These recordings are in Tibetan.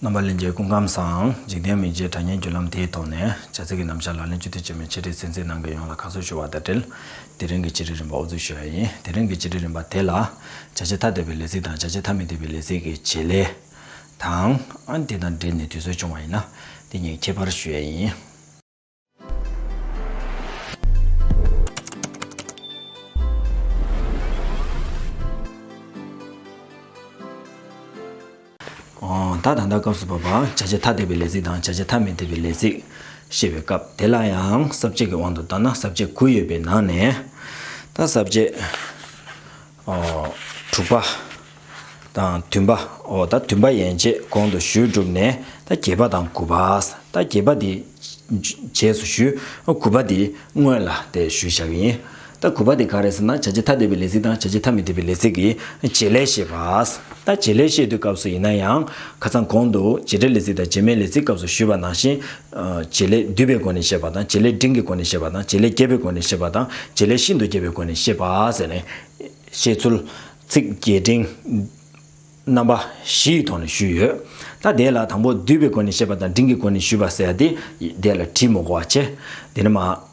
རྣམ་པ་ལས་འཇལ་སྐུ་ཁམས་སམ་འཇིག་རྟེན་མི་མཇེད་དྲ་བརྙན་བརྒྱུད་ལམ་དེའི་ཐོག་ནས་བྱ་ཚིག་གི་རྣམ་བཞག་ལག་ལེན་བཅོས་སྒྲིག་བྱས་མིན་ཆེད་སྒྲིག་ཚན་རྩལ་ནང་གི་ཡོངས་ལ་ཁ་གསོ་ཞུ་བ་དང་འབྲེལ་དེ་རིང་གི་སྤྱི་སྒྲིག་རིམ་པ་ཨོ་རྫུས་ཞུ་བ་ཡིན་དེ་རིང་གི་སྤྱི་སྒྲིག་རིམ་པ་དེ་ལ། བྱ་བྱེད་ཐ་དད་པའི་ལས་ཚིག་དང་བྱ་བྱེད་ཐ་མི་དད་པའི་ལས་ཚིག་གི་བྱེད་ལས། དང། དེ་དང་འབྲེལ་ནས་དུས་ཚོད་ཅུང་བ་ཡིན་ན། དེ་གཉིས་ཁྱད་པར་ཞུ་ཡས་ཡིན། ད་ད་ལྟ་སྐབས་སུ་བབ་པ་བྱ་བྱེད་ཐ་དད་པའི་ལས་ཚིག་དང་བྱ་བྱེད་ཐ་མི་དད་པའི་ལས་ཚིག་ཤེས་པའི་སྐབས་དེ་ལ་ཡང་ཟབ་ཆོས་ཀྱི་དབང་དུ་བཏང་ན་ཟབ་ཆོས་དགུ་ཡོད་པའི་ནང་ནས་ད་ཟབ་ཆོས། དྲུག་པ། དང་བདུན་པ། ཨོ། ད་བདུན་པ་ཡན་ཆད་གོང་དུ་ཞུས་གྲུབ་ནས་ད་བརྒྱད་པ་དང་དགུ་པ། ད་བརྒྱད་པ་དེ་རྗེས་སུ་ཞུས། དགུ་པ་དེ་སྔོན་ལ་དེ་ཞུས་བཞག་གི་ཡིན། ད་དགུ་པ་དེ་ག་རེད་ཟེར་ན་བྱ་བྱེད་ཐ་དད་པའི་ལས་ཚིག་དང་བྱ་བྱེད་ཐ་མི་དད་པའི་ལས་ཚིག་གི་བྱེད་ལས་བཤད་པ། ད་བྱེད་ལས་བཤད་དུས་སྐབས་སུ་ཡིན་ན་ཡང་ཁ་ཚང་གོང་དུ་བྱེད་སྒྲའི་ལས་ཚིག་དང་བྱེད་མའི་ལས་ཚིག་སྐབས་སུ་ཞུས་པ་ནང་བཞིན་བྱེད་ལས་བསྡུས་པའི་སྒོ་ནས་བཤད་པ་དང་བྱེད་ལས་འབྲིང་གི་སྒོ་ནས་བཤད་པ་དང་བྱེད་ལས་རྒྱས་པའི་སྒོ་ནས་བཤད་པ་དང་བྱེད་ལས་ཤིན་ཏུ་རྒྱས་པའི་སྒོ་ནས་བཤད་པ་ཟེར་ནས། བཤད་ཚུལ། ཚིག་རྒྱས་འབྲིང། རྣམ་པ། བཞིའི་ཐོག་ནས་ཞུས་ཡོད། ད་དེ་ལ་དང་པོ་བསྡུས་པའི་སྒོ་ནས་བཤད་པ་དང་འབྲིང་གི་སྒོ་ནས་ཞུས་པ་ཟེར་ཡ་དེ། དེ་ལ་བྲིས་མོ་གོ་བ་ཆེ། དེ་ནི་མ།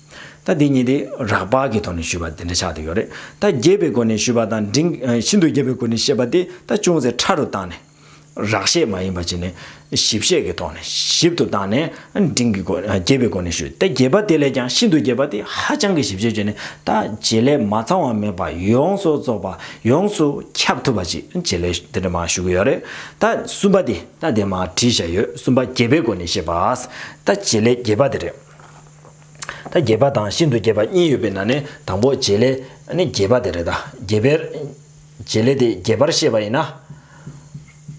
ད་འདི་གཉིས་དེ་རགས་པ་གི་ཐོག་ནས་ཞུས་པ་དེ་འདྲ་ཆགས་ཏེ་ཡོད་རེད། ད་རྒྱས་པའི་སྒོ་ནས་ཞུས་པ་དང་འབྲིང། ཤིན་ཏུ་རྒྱས་པའི་སྒོ་ནས་བཤད་པ་དེ་ད་ཅུང་ཟད་ཕྲ་རུ་བཏང་ནས། རགས་བཤད་མ་ཡིན་པ་བྱས་ནས། ཞིབ་བཤད་ཀྱི་ཐོག་ནས་ཞིབ་ཏུ་བཏང་ནས། འབྲིང་གི་སྒོ། རྒྱས་པའི་སྒོ་ནས་ཞུས་ཏེ་རྒྱས་པ་དེ་ལས་ཀྱང་ཤིན་ཏུ་རྒྱས་པ་དེ་ཧ་ཅང་གི་ཞིབ་བཤད་བྱས་ནས་ད་བྱེད་ལས་མ་ཚང་བ་མེད་པ་ཡོངས་སུ་རྫོགས་པ་ཡོངས་སུ་ཁྱབ་ཐུབ་པ་ཅིག་བྱེད་ལས་དེ་འདྲ་མ་ཞུ་གི་ཡོད་རེད། ད་གསུམ་པ་དེ་ད་དེ་མ་བྲིས་བཞག་ཡོད་གསུམ་པ་རྒྱས་པའི་སྒོ་ནས་བཤད་པ། ད་བྱེད་ལས་རྒྱས་པ་དེ་རེད། ད་རྒྱས་པ་དང་ཤིན་ཏུ་རྒྱས་པ་གཉིས་ཡོད་པའི་ནང་ནས་དང་པོ་རྗེས་ལས་ནི་རྒྱས་པ་དེ་རེད་ད། རྒྱས་པའི་རྗེས་ལས་དེ་རྒྱས་པར་བཤད་པ་ཡིན་ན།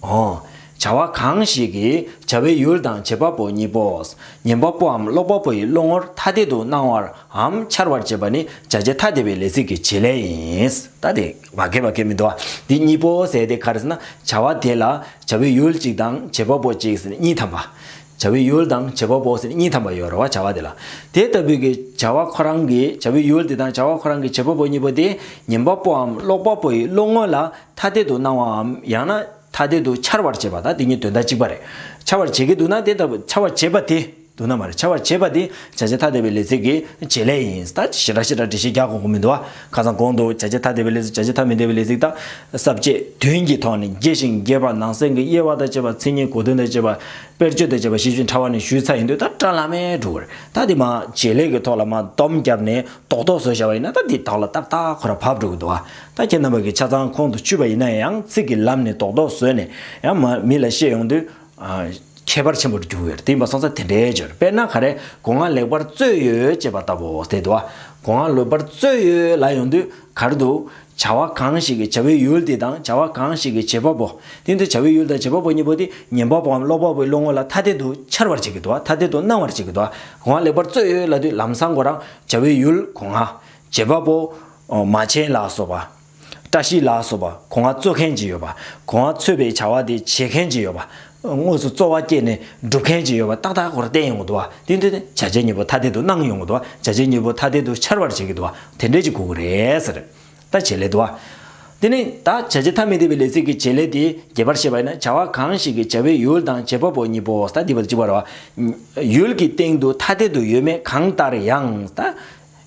ཧོ། བྱ་བ་གང་ཞིག་གི་བྱ་བའི་ཡུལ་དང་བྱེད་པ་པོ་གཉིས་པོ། ཉན་པ་པོའམ་ཀློག་པ་པོ་ཡི་བློ་ངོར་ཐ་དད་དུ་སྣང་བར་འམ་འཆར་བར་བྱེད་པ་ནི་བྱ་བྱེད་ཐ་དད་པའི་ལས་ཚིག་གི་བྱེད་ལས་ཡིན། ད་དེ་བ་སྐད་བ་སྐད་མི་འདུག་ཨ། འདི་གཉིས་པོ་ཟད་དེ་ག་རེ་ཟེར་ན་བྱ་བ་དེ་ལ་བྱ་བའི་ཡུལ་གཅིག་དང་བྱེད་པ་པོ་གཅིག་གཉིས་ཐམས་པ། བྱ་བའི་ཡུལ་དང་བྱེད་པ་པོ་ཟེར་གཉིས་ཐམ་པ་ཡོད་རེ་བ་བྱ་བ་དེ་ལ། དེ་ལྟ་བུའི་གི་བྱ་བ་ཁོ་རང་གི་བྱ་བའི་ཡུལ་དེ་དང་བྱ་བ་ཁོ་རང་གི་བྱེད་པ་པོ་གཉིས་པོ་དེ་ཉན་པ་པོའམ་ཀློག་པ་པོ་ཡི་བློ་ངོ་ལ་ཐ་དད་དུ་སྣང་བའམ་ཡང་ན་ཐ་དད་དུ་འཆར་བར་བྱེད་པ་དང་དེ་གཉིས་དོན་དག་གཅིག་པ་རེད། འཆར་བར་བྱེད་ཀྱི་འདུག་ན་དེ་ལྟ་བུ་འཆར་བར་བྱེད་པ་དེ་འདུག་ན་མ་རེད་འཆར་བར་བྱེད་པ་དེ་བྱ་བྱེད་ཐ་དད་པའི་ལས་ཚིག་གི་བྱེད་ལས་ཡིན། ད་ཅི་ཞེ་དྲག་ཞེ་དྲག་འགྲེལ་བཤད་རྒྱག་དགོས་མཁོ་མི་འདུག་ཨ། ཁ་སང་གོང་དུ་བྱ་བྱེད་ཐ་དད་པའི་ལས་སུ་བྱ་བྱེད་ཐ་མི་དད་པའི་ལས་ཚིག་དག་ཟབ་བཅས་དོན་གྱི་ཐོག་ནས་རྒྱས་ཤིང་རྒྱས་པར་ནང་གསེས་ཀྱི་དབྱེ་བ་དང་བཅས་པ་མཚན་ཉིད་གོ་དོན་དང་བཅས་པ་དཔེར་བརྗོད་དང་བཅས་པ་ཞིབ་ཅིང་ཕྲ་བ་ནས་ཞུས་ཚར་ཡིན་དུས་ད་དྲ་ལ་མས་འགྲོ་གིར་ད་དེ་མ་བྱས་ལས་ཀྱི་ཐོག་ལ་མ་བསྡོམས་བརྒྱབ་ནས་རྡོག་རྡོག་བཟོ་བྱ་བ་ཡིན་ན་ད་དེ་དག་ལ་ཏག་ཏག་ཁོ་ར་བབས་འགྲོ་གི་འདུག་ཨ་ད་ཁྱེད་རྣམ་པ་གི་ཆ་ཚང་ཁོང་དུ་ཆུད་པ་ཡིན་ན་ཡང་ཚིག་གི་ལམ་ནས་རྡོག་རྡོག་བཟོས་ནས་ཡང་མི་ལ་བཤད་ཡོང་དུས་ཁྱད་པར་ཆེན་པོར་འགྱུར་བས་དེ་ཡིན་པ་སོང་ཚེ་དེ་འདྲའི་སྦྱོར་དཔེར་ན་ག་རེ་སྒོ་ང་ལེགས་པར་བཙོས་ཡོད་ཅེས་པ་ལྟ་བུའོ་དེ་དུ་བ་སྒོ་ང་ལོད་པར་བཙོས་ཡོད་ལ་ཡོང་དུས་གར་འདུག་བྱ་བ་གང་ཞིག་གི་བྱ་བའི་ཡུལ་དེ་དང་བྱ་བ་གང་ཞིག་གི་བྱེད་པ་པོ་དེ་འདུག་བྱ་བའི་ཡུལ་དང་བྱེད་པ་པོ་གཉིས་པོ་དེ་ཉན་པ་པོའམ་ཀློག་པ་པོའི་བློ་ངོ་ལ་ཐ་དད་དུ་འཆར་བར་བྱེད་ཀྱི་དུ་བ་ཐ་དད་དུ་སྣང་བར་བྱེད་ཀྱི་དུ་བ་སྒོ་ང་ལེགས་པར་བཙོས་ཡོད་ལ་དུས་ལམ་སང་གོ་རང་བྱ་བའི་ཡུལ་སྒོ་ང། བྱེད་པ་པོ། མ་བྱས་ལ་སོགས་པ། བཀྲ་ཤིས་ལགས་སོགས་པ་གོ་ང་རྩོད་མཁན་གྱི་ཡོད་པ་གོ་ང་ཚོད་པའི་བྱ་བ་དེ་བྱེད་མཁན་གྱི་ཡོད་པ་དངོས་སུ་རྩོ་བ་སྐྱེད་ནས་སྒྲུབ་མཁན་གྱི་ཡོད་པ་ཏག་ཏག་གོ་ར་བསྟན་ཡོང་གི་འདུག་བ་དེ་འདི་བྱ་བྱེད་གཉིས་པོ་ཐ་དད་དུ་སྣང་ཡོང་གི་འདུག་བ་བྱ་བྱེད་གཉིས་པོ་ཐ་དད་དུ་འཆར་བར་བྱེད་ཀྱི་འདུག་བ་དེ་འདྲས་ཀྱི་གོ་གི་རེད་ཟེར། ད་བྱེད་ལས་དུ་བ། དེ་ནི་ད་བྱ་བྱེད་ཐ་མི་དད་པའི་ལས་ཚིག་གི་བྱེད་ལས་དེ་རྒྱས་པར་བཤད་པ་ཡིན་ན་བྱ་བ་གང་ཞིག་གི་བྱ་བའི་ཡུལ་དང་བྱེད་པ་པོ་གཉིས་པོ་ད་འདི་བ་གཅིག་པ་རེད་བ། ཡུལ་གྱི་སྟེང་དུ་ཐ་དད་དུ་ཡོད་མེད་གང་ལྟར་ཡང་ད།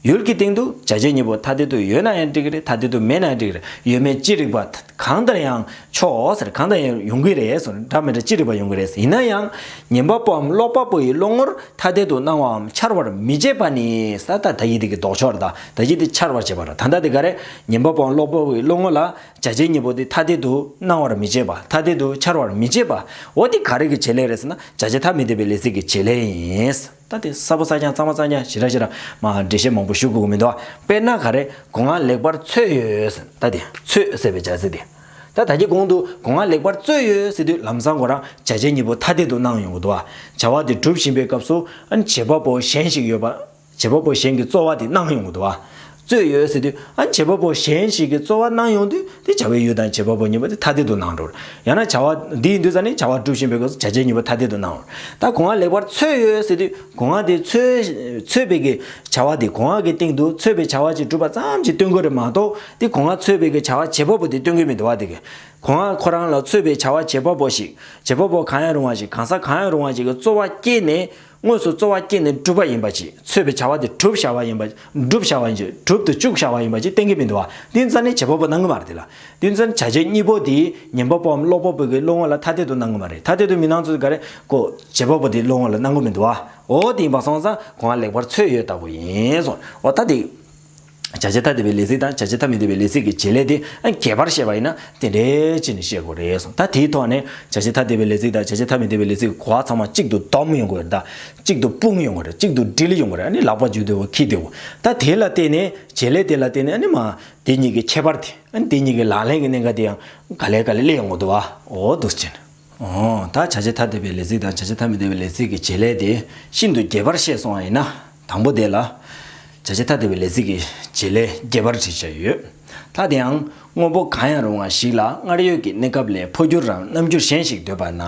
ཡུལ་གྱི་སྟེང་དུ་བྱ་བྱེད་གཉིས་པོ་ཐ་དད་དུ་ཡོད་ན་ཡང་འགྲིག་གི་རེད་ཐ་དད་དུ་མེད་ན་ཡང་འགྲིག་གི་རེད་ཡོད་མེད་ཅི་རིགས་པ་གང་ལྟར་ཡང་ཆོག་གང་ལྟར་ཡང་ཡོང་གི་རེད་སོ་འདྲ་མི་འདྲ་ཅི་རིགས་པ་ཡོང་གི་རེད་ཡིན་ན་ཡང་ཉན་པ་པོའམ་ཀློག་པ་པོ་ཡི་བློ་ངོར་ཐ་དད་དུ་སྣང་བའམ་འཆར་བར་མི་བྱེད་པ་ནི་ས་ཐག་ད་ཡིད་དེ་གི་ལྡོག་ཕྱོགས་རེད་ད་ད་ཡིད་དེ་འཆར་བར་བྱེད་པ་རེད་ད་ལྟ་དེ་ག་རེད་ཉན་པ་པོའམ་ཀློག་པ་པོ་ཡི་བློ་ངོར་ལ་བྱ་བྱེད་གཉིས་པོ་དེ་ཐ་དད་དུ་སྣང་བར་མི་བྱེད་པ་ཐ་དད་དུ་འཆར་བར་མི་བྱེད་པའོ་དེ་ག་རེ་གི་བྱེད་ལས་རེད་ཟེར་ན་བྱ་བྱེད་ཐ་མི་དད་པའི་ལས་ཚིག་གི་བྱེད་ལས་ཡིན། ད་དེ་གསར་པོ་གསར་རྐྱང་གཙང་མ་གཙང་རྐྱང་ཞི་ར་ཞི་ར། མ་ཧ་འགྲེལ་བཤད་མང་པོ་ཞུ་དགོས་ཀྱི་མི་འདུག་ཨ། དཔེར་ན་ག་རེ་སྒོ་ང་ལེགས་པར་འཚོས་ཡོད། ད་དེ། འཚོས་ཟེར་བའི་བྱ་ཚིག་དེ། ད་ད་ཀྱི་གོང་དུ་སྒོ་ང་ལེགས་པར་བཙོས་ཡོད་ཟེར་དུས་ལམ་སང་གོ་རང་བྱ་བྱེད་གཉིས་པོ་ཐ་དད་དུ་སྣང་ཡོང་གི་འདུག་ཨ། བྱ་བ་དེ་སྒྲུབ་བཞིན་པའི་སྐབས་སུ། བྱེད་པ་པོ་གཞན་ཞིག་ཡོད་པ། བྱེད་པ་པོ་གཞན་གྱི་རྩོལ་བ་དེ་སྣང་ཡོང་གི་འདུག་ཨ། རྩོད་ཡོད་ཟེར་དུས་ཨ་བྱེད་པ་པོ་གཞན་ཞིག་གིས་རྩོལ་བ་གནང་ཡོང་དུས་དེ་བྱ་བའི་ཡུལ་དང་བྱེད་པ་པོ་གཉིས་པོ་དེ་ཐ་དད་དུ་སྣང་འགྲོར། ཡང་ན་བྱ་བ་འདི་ཡིན་དུས་ས་ནི་བྱ་བ་སྒྲུབ་བཞིན་པའི་སྒོས་སུ་བྱ་བྱེད་གཉིས་པོ་ཐ་དད་དུ་སྣང་འོང། ད་གོང་ཨ་ལེགས་པར་འཚོལ་ཡོད་ཟེར་དུས་གོང་ཨ་དེ་འཚོལ་བས་ཀྱི་བྱ་བ་དེ་གོང་ཨ་གི་སྟེང་དུ་འཚོལ་བའི་བྱ་བ་ཅིག་སྒྲུབ་པ་ཙམ་གྱིས་སྟོན་དགོས་རེད་མ་གཏོགས་དེ་གོང་ཨ་འཚོལ་བས་ཀྱི་བྱ་བ་བྱེད་པ་པོ་དེ་སྟོན་དགོས་མི་འདུག་བ་དེ་གོང་ཨ་ཁོ་རང་ལ་འཚོལ་བའི་བྱ་བ་བྱེད་པ་པོ་ཞིག་བྱེད་པ་པོ་གང་ཡང་རུང་བ་ཞིག་གང་ཟག་གང་ཡང་རུང་བ་ཞིག་གིས་རྩོལ་བ་བསྐྱེད་ནས་དངོས་སུ་རྩོལ་བ་བསྐྱེད་ནས་བསྒྲུབ་པ་ཡིན་པ་གྱིས་ཚོལ་བའི་བྱ་བ་དེ་བསྒྲུབ་བྱ་བ་ཡིན་པ་བསྒྲུབ་བྱ་བ་ཡིན་གྱི་བསྒྲུབ་ཏུ་བཅུག་བྱ་བ་ཡིན་པ་གཅིག་གཏན་འཁེལ་མི་འདུག་བ་ཏིན་རྩ་ནི་བྱེད་པ་པོ་སྣང་ངོ་མ་རེད་དེ་ལ་ཏིན་རྩ་ནི་བྱ་བྱེད་གཉིས་པོ་དེ་ཉན་པ་པོའམ་ཀློག་པ་པོ་གི་བློ་ངོ་ལ་ཐ་དད་དུ་སྣང་ངོ་མ་རེད་ཐ་དད་དུ་མི་སྣང་ཚུལ་འགའ་རེ་ཀོ་བྱེད་པ་པོ་དེའི་བློ་ངོ་ལ་སྣང་གི་མི་འདུག་བའོ་ཏིན་པ་སོང་ཙང་གོང་ལ་ལེགས་པར་ཚོལ་ཡོད་ལྟ་བུ་ཡིན་སོང་བ་ད་དེ། བྱ་བྱེད་ཐ་དད་པའི་ལས་ཚིག་དང་བྱ་བྱེད་ཐ་མི་དད་པའི་ལས་ཚིག་གི་བྱེད་ལས་དེ་རྒྱས་པར་བཤད་པ་ཡིན་ན་དེ་འདྲའི་ཅི་ནས་བཤད་དགོས་རེད་གསུངས་ད་དེའི་ཐོག་ནས་བྱ་བྱེད་ཐ་དད་པའི་ལས་ཚིག་དང་བྱ་བྱེད་ཐ་མི་དད་པའི་ལས་ཚིག་གི་གོ་བ་ཚང་མ་གཅིག་ཏུ་བསྡོམས་ཡོང་དགོས་རེད་ད་གཅིག་ཏུ་སྤུངས་ཡོང་དགོས་རེད་གཅིག་ཏུ་དྲིལ་ཡོང་དགོས་རེད་ཨ་ནི་ལག་པ་བརྗོད་བདེ་བོ་ཁྱི་བདེ་བོ་ད་དེ་ལ་བརྟེན་ནས་བྱེད་ལས་དེ་ལ་བརྟེན་ནས་ཨ་ནི་མ་དེ་གཉིས་ཀྱི་ཁྱད་པར་དེ་ཨ་ནི་དེ་གཉིས་ཀྱི་ལག་ལེན་གྱི་གནད་འགག་དེ་ཡང་ག་ལེ་ག་ལེ་གླེང་ཡོང་དགོས་འདུག་ཨ་འོ་འདུག་ཅན། འོ་ད་བྱ་བྱེད་ཐ་དད་པའི་ལས་ཚིག་དང་བྱ་བྱེད་ཐ་མི་དད་པའི་ལས་ཚིག་གི་བྱེད་ལས་དེ་ཤིན་ཏུ་རྒྱས་པར་བཤད་སོང་བ་ཡིན་ན། དང་པོ་དེ་ལ། བྱ་བྱེད་ཐ་དད་པའི་ལས་ཚིག་གི་བྱེད་ལས་རྒྱས་པར་བྲིས་བྱ་ཡོད། ལྷ་དེའང་དངོས་པོ་གང་ཡང་རུང་བ་ཞིག་ལ་སྔར་ཡོད་ཀྱི་གནས་སྐབས་ལས་འཕོ་འགྱུར་རམ་རྣམ་འགྱུར་གཞན་ཞིག་འདོད་པ་ན།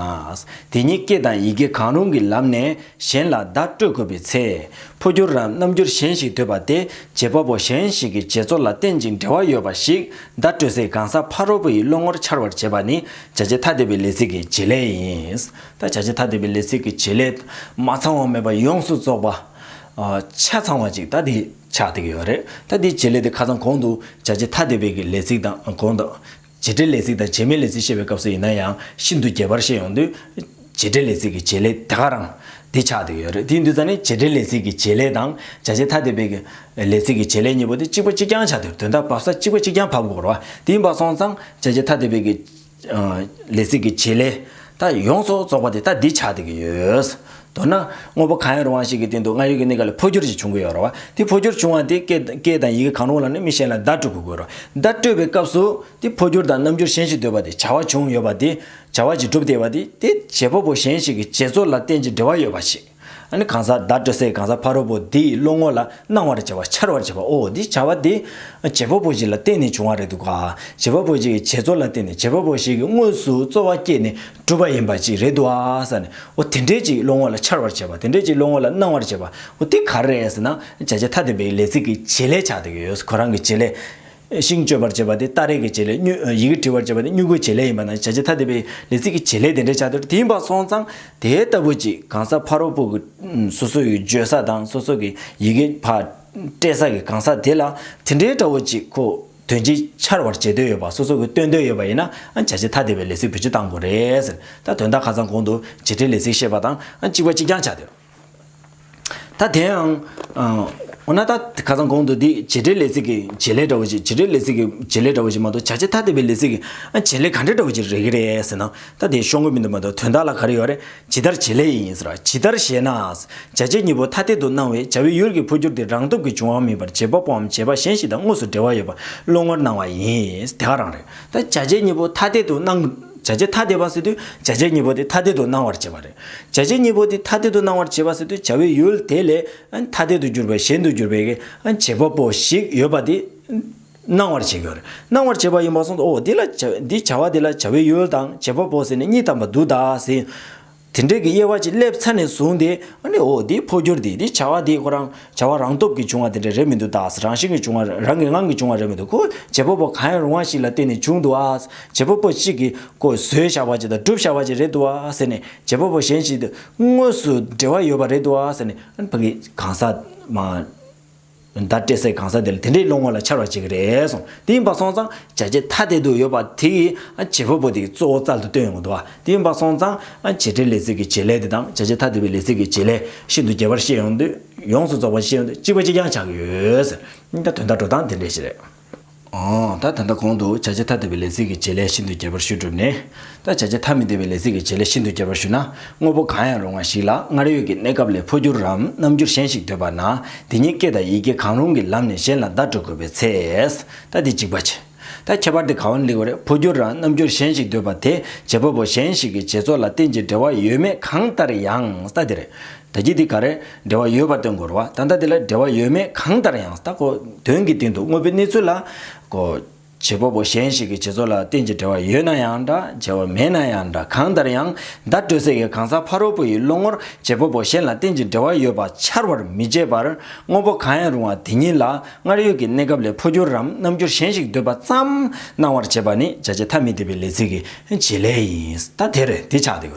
དེ་ཉིད་སྐད་དང་ཡི་གེ་གང་རུང་གི་ལམ་ནས་གཞན་ལ་བརྡ་སྤྲོད་དགོས་པའི་ཚེ། འཕོ་འགྱུར་རམ་རྣམ་འགྱུར་གཞན་ཞིག་འདོད་པ་དེ་རྗེས་པ་པོ་གཞན་ཞིག་གི་རྗེས་ཚོར་ལ་རྟེན་ཅིང་འབྲེལ་བ་ཡོད་པ་ཞིག་བརྡ་སྤྲོད་སའི་གང་ཟག་ཕ་རོལ་པོ་ཡི་བློ་ངོར་འཆར་བར་བྱེད་པ་ནི་བྱ་བྱེད་ཐ་དད་པའི་ལས་ཚིག་གི་བྱེད་ལས་ཡིན། ད་བྱ་བྱེད་ཐ་དད་པའི་ལས་ཚིག་གི་བྱེད་ལས་མ་ཚང་བ་མེད་པར་ཡོངས་སུ་རྫོགས་པ། ཆ་ཚང་བ་ཅིག་ད་དེའི་ཆ་དེ་གི་ཡོད་རེད་ད་དེའི་བྱེད་ལས་དེ་ཁ་ཚང་གོང་དུ་བྱ་བྱེད་ཐ་དད་པའི་གི་ལས་ཚིག་དང་གོང་དུ། བྱེད་འབྲེལ་ལས་ཚིག་དང་བྱེད་མའི་ལས་ཚིག་བཤད་པའི་སྐབས་སུ་ཡིན་ན་ཡང་ཤིན་ཏུ་རྒྱས་པར་བཤད་ཡོང་དུས། བྱེད་འབྲེལ་ལས་ཚིག་གི་བྱེད་ལས་དེ་ག་རང། དེའི་ཆ་དེ་གི་ཡོད་རེད་དེའི་འདུས་རྩ་ནི་བྱེད་འབྲེལ་ལས་ཚིག་གི་བྱེད་ལས་དང་བྱ་བྱེད་ཐ་དད་པའི་གི་ལས་ཚིག་གི་བྱེད་ལས་གཉིས་པོ་དེ་གཅིག་པ་གཅིག་རྐྱང་ཆ་དེར་དོན་དག་བབས་ས་གཅིག་པ་གཅིག་རྐྱང་བབས་དགོས་ར་བ་དེའི་འབའ་སོང་ཙང་བྱ་བྱེད་ཐ་དད་པའི་གི། ལས་ཚིག་གི་བྱེད་ལས། ད་ཡོངས་སུ་རྫོགས་པ་དེ་ལྟ་འདི་ཆགས་ཏེ་ཡོད། མདོར་ན། དངོས་པོ་གང་ཡང་རུང་བ་ཞིག་གི་སྟེང་དུ་སྔར་ཡོད་ཀྱི་གནས་སྐབས་ལས་འཕོ་འགྱུར་ཞིག་བྱུང་གི་ཡོད་རེད། དེ་འཕོ་འགྱུར་བྱུང་བ་དེ་སྐད་དང་ཡི་གེ་གང་རུང་ལ་ནི་མི་གཞན་ལ་བརྡ་སྤྲོད་དགོས་རེད། བརྡ་སྤྲོད་པའི་སྐབས་སུ། དེ་འཕོ་འགྱུར་དང་རྣམ་འགྱུར་གཞན་ཞིག་འདོད་པ་དེ་བྱ་བ་བྱུང་ཡོད་པ་དེ། བྱ་བ་ཞིག་གྲུབ་སྟེ་ཡོད་པ་དེ། དེ་བྱེད་པ་པོ་གཞན་ཞིག་གི་བྱེད་རྩོལ་ལ་གཏན་གྱི་འབྲེལ་བ་ཡོད་པ་ཞིག། གང་ཟག་བདག་སྤྲོ་སའི་གང་ཟག་ཕ་རོལ་པོ་དེའི་བློ་ངོ་ལ་སྣང་བར་བྱ་བ་འཆར་བར་བྱེད་པའོ་འདི་བྱ་བ་དེ། བྱེད་པ་པོ་ཞིག་ལ་བརྟེན་ནས་བྱུང་བ་རེད་འདུག་ག། བྱེད་པ་པོ་ཞིག་གི་བྱེད་རྩོལ་ལ་བརྟེན་ནས་བྱེད་པ་པོ་ཞིག་གིས་དངོས་སུ་རྩོལ་བ་བསྐྱེད་ནས་གྲུབ་པ་ཡིན་པ་ཅིག་རེད་འདུག་ཟེར་ནས་འོ་དེ་འདྲའི་ཅིག་བློ་ངོ་ལ་འཆར་བར་བྱེད་པ་དེ་འདྲའི་ཅིག་བློ་ངོ་ལ་སྣང་བར་བྱེད་པ་འོ་དེ་ག་རེ་རེད་ཟེར་ན་བྱ་བྱེད་ཐ་དད་པའི་ལས་ཚིག་གི་བྱེད་ལས་ཆགས་འདུག་གི་ཡོད་ཁོ་རང་གི་བྱེད་ལས། ཤིང་གཅོད་པར་བྱེད་པ་དེ་སྟ་རེས་ཀྱི་བྱེད་ལས། ཡི་གེ་བྲི་བར་བྱེད་པ་དེ་སྨྱུ་གུའི་བྱེད་ལས་ཡིན་པ་ན་བྱ་བྱེད་ཐ་དད་པའི་ལས་ཚིག་གི་བྱེད་ལས་དེ་འདྲའི་བྱ་དེར་དེ་ཡིན་པར་སོང་ཙང་དེ་ལྟ་བུ་ཅིག་གང་ཟག་ཕ་རོལ་པོ་སོ་སོ་ཡི་བརྗོད་ས་དང་སོ་སོ་གི་ཡི་གེ་བ་སྤྲད་ས་ཀྱི་གང་ཟག་དེ་ལ་དེ་འདྲའི་སྒྲ་བོ་ཅིག་གོ་དོན་ཅིག་འཆར་བར་བྱེད་འདོད་ཡོད་པ་སོ་སོ་གི་སྟོན་འདོད་ཡོད་པ་ཡིན་ན་བྱ་བྱེད་ཐ་དད་པའི་ལས་ཚིག་བུ་བྱེད་བཏང་དགོས་རེད། ད་དོན་དག་ཁ་ཚང་གོང་དུ་བྱེད་བྲལ་ལས་ཚིག་བཤད་པ་དང་གཅིག་པ་གཅིག་རྐྱང་ཆ་དེར། ད་དེ་ཡང། འོ་ན་ད་ག་ཚང་གོང་དུ་འདི་བྱེད་འབྲེལ་ལས་ཚིག་གི་བྱེད་ལས་འདྲ་བོ་ཞིག་བྱེད་འབྲེལ་ལས་ཚིག་གི་བྱེད་ལས་འདྲ་བོ་ཞིག་མ་གཏོགས་བྱ་བྱེད་ཐ་དད་པའི་ལས་ཚིག་གི་བྱེད་ལས་ག་འདྲ་འདྲ་བོ་ཞིག་རེད་གི་རེད་ཟེར་ན་ད་དེ་ཤོང་གི་མི་འདུག་མ་གཏོགས་དོན་དག་ལ་ག་རེ་ཡོད་རེད་ཇི་ལྟར་བྱེད་ལས་ཡིན་ཟེར་བ་ཇི་ལྟར་ཞེ་ན། བྱ་བྱེད་གཉིས་པོ་ཐ་དད་དུ་སྣང་བས་བྱ་བའི་ཡུལ་གྱི་འཕོ་འགྱུར་དེ་རང་སྟོབས་ཀྱིས་འབྱུང་བ་མིན་པར་བྱེད་པ་པོའམ་བྱེད་པ་གཞན་ཞིག་དང་དངོས་སུ་འབྲེལ་བ་ཡོད་པ་བློ་ངོར་སྣང་བ་ཡིན་དེ་ག་རང་རེད། ད་བྱ་བྱེད་གཉིས་པོ་ཐ་དད་དུ་སྣང། བྱ་བྱེད་ཐ་དད་པ་ཟེར་དུས་བྱ་བྱེད་གཉིས་པོ་དེ་ཐ་དད་དུ་སྣང་བར་བྱེད་པ་རེད། བྱ་བྱེད་གཉིས་པོ་དེ་ཐ་དད་དུ་སྣང་བར་བྱེད་པ་ཟེར་དུས་བྱ་བའི་ཡུལ་དེ་ལས་ཐ་དད་དུ་གྱུར་པའི་གཞན་དུ་གྱུར་པའི་བྱེད་པ་པོ་ཞིག་ཡོད་པ་དེ་སྣང་བར་བྱེད་ཀྱི། སྣང་བར་བྱེད་པ་ཡིན་པར་གསུངས་སོ། འདི་ལ་འདི་བྱ་བ་དེ་ལ་བྱ་བའི་ཡུལ་དང་བྱེད་པ་པོ་ཟེར་ནས་གཉིས་དམ་པ་དུ་དག་ཟིན། དེ་འདྲེས་ཀྱི་དབྱེ་བ་གཅིག་སླེབས་ཚར་ནས་བཟུང་སྟེ་འོ་འདི་འཕོ་འགྱུར་འདི་འདི་བྱ་བ་འདི་ཁོ་རང། བྱ་བ་རང་སྟོབས་ཀྱིས་བྱུང་བ་དེ་འདྲ་རེད་མི་འདུག་ད་རང་བཞིན་གྱིས་བྱུང་བ་རང་གི་ངང་གིས་བྱུང་བ་རེད་མི་འདུག་གོ་བྱེད་པོ་པོ་གང་ཡང་རུང་བ་ཞིག་ལ་བརྟེན་ནས་བྱུང་འདུག་ཨ། བྱེད་པོ་པོ་གཅིག་གིས་ཀོ་བཟོས་བཞག་པ་ཅིག་དང་བསྒྲུབས་བཞག་པ་ཅིག་རེད་འདུག་ཨ་ཟེར་ནས་བྱེད་པོ་པོ་གཞན་ཞིག་དངོས་སུ་འབྲེལ་བ་ཡོད་པ་རེད་འདུག་ཨ་ཟེར་ནས་ཕ་གི་གང་ཟག། མ། ད་སྤྲད་སའི་གང་ཟག་དེ་ལ་དེ་འདྲའི་བློ་ངོ་ལ་འཆར་བ་ཅིག་གི་རེད་སོང་དེ་ཡིན་པ་སོང་ཙང་བྱ་བྱེད་ཐ་དད་དུ་ཡོད་པ་དེ་གིས་བྱེད་པོ་པོ་དེ་གཙོ་བོ་རྩལ་དུ་བཏོན་ཡོང་འདུག་ཨ། དེ་ཡིན་པ་སོང་ཙང་བྱེད་འབྲེལ་ལས་ཚིག་གི་བྱེད་ལས་དེ་དང་བྱ་བྱེད་ཐ་དད་པའི་ལས་ཚིག་གི་བྱེད་ལས་ཤིན་ཏུ་རྒྱས་པར་བཤད་ཡོང་དུས་ཡོངས་སུ་རྫོགས་པར་བཤད་ཡོང་དུས་གཅིག་པ་གཅིག་རྐྱང་ཆགས་ཀྱི་ཡོད། ད་དོན་དག་འགྲོ་སྟངས་དེ་འདྲས་ཤིག་རེད། ད་དོན་དག་གོང་དུ་བྱ་བྱེད་ཐ་དད་པའི་ལས་ཚིག་གི་བྱེད་ལས་ཤིན་ཏུ་རྒྱས་པར་ཞུས་གྲུབ་ནས། ད་བྱ་བྱེད་ཐ་མི་དད་པའི་ལས་ཚིག་གི་བྱེད་ལས་ཤིན་ཏུ་རྒྱས་པར་ཞུས་ན་དངོས་པོ་གང་ཡང་རུང་བ་ཞིག་ལ་སྔར་ཡོད་ཀྱི་གནས་སྐབས་ལས་འཕོ་འགྱུར་རམ་རྣམ་འགྱུར་གཞན་ཞིག་འདོད་པ་ན་དེ་ཉིད་སྐད་དང་ཡི་གེ་གང་རུང་གི་ལམ་ནས་གཞན་ལ་བརྡ་སྤྲོད་དགོས་པའི་ཚེ། ད་དེ་གཅིག་པ་བྱེད། ད་ཁྱད་པར་དེ་ག་འོན་ལིག་བ་རེད་འཕོ་འགྱུར་རང་རྣམ་འགྱུར་གཞན་ཞིག་འདོད་པ་དེ་རྗེ་བོ་བོ་གཞན་ཞིག་གི་རྗེ་ཚོ་ལ་རྟེན་གྱི་འབྲེལ་བ་ཡོད་མེད་གང་ལྟར་ཡང་ད་དེ་རེད་ད་ཀྱི་དེ་ག་རེད་འབྲེལ་བ་ཡོད་པ་སྟོན་དགོས་རུ་བ་ད་ད་དེ་ལ་འབྲེལ་བ་ཡོད་མེད་གང་ལྟར་ཡང་ད་གོ་དོན་གྱི་སྟེང་དུ་དངོས་པོའི་གནས་ཚུལ་ལ་གོ། རྗེ་བོ་བོ་གཞན་ཞིག་གི་རྗེ་ཚོ་ལ་རྟེན་གྱི་འབྲེལ་བ་ཡོད་ན་ཡང་འདྲ་འབྲེལ་བ་མེད་ན་ཡང་འདྲ་གང་ལྟར་ཡང་ད་སྤྲོས་བསྲེག་གི་གང་ཟག་ཕ་རོལ་པོ་ཡི་བློ་ངོར་རྗེ་བོ་བོ་གཞན་ལ་རྟེན་གྱི་འབྲེལ་བ་ཡོད་པ་འཆར་བར་མི་བྱེད་པར་དངོས་པོ་གང་ཡང་རུང་བ་དེ་ཉིད་ལ་སྔར་ཡོད་ཀྱི་གནས་སྐབས་ལས་འཕོ་འགྱུར་རམ་རྣམ་འགྱུར་གཞན་ཞིག་འདོད་པ་ཙམ་སྣང་བར་བྱེད་པ་ནི་བྱ་བྱེད་ཐ་མི་དད་པའི་ལས་ཚིག་གི་བྱེད་ལས་ཡིན། ད་དེ་རེད་དེ་ཆགས་དེ་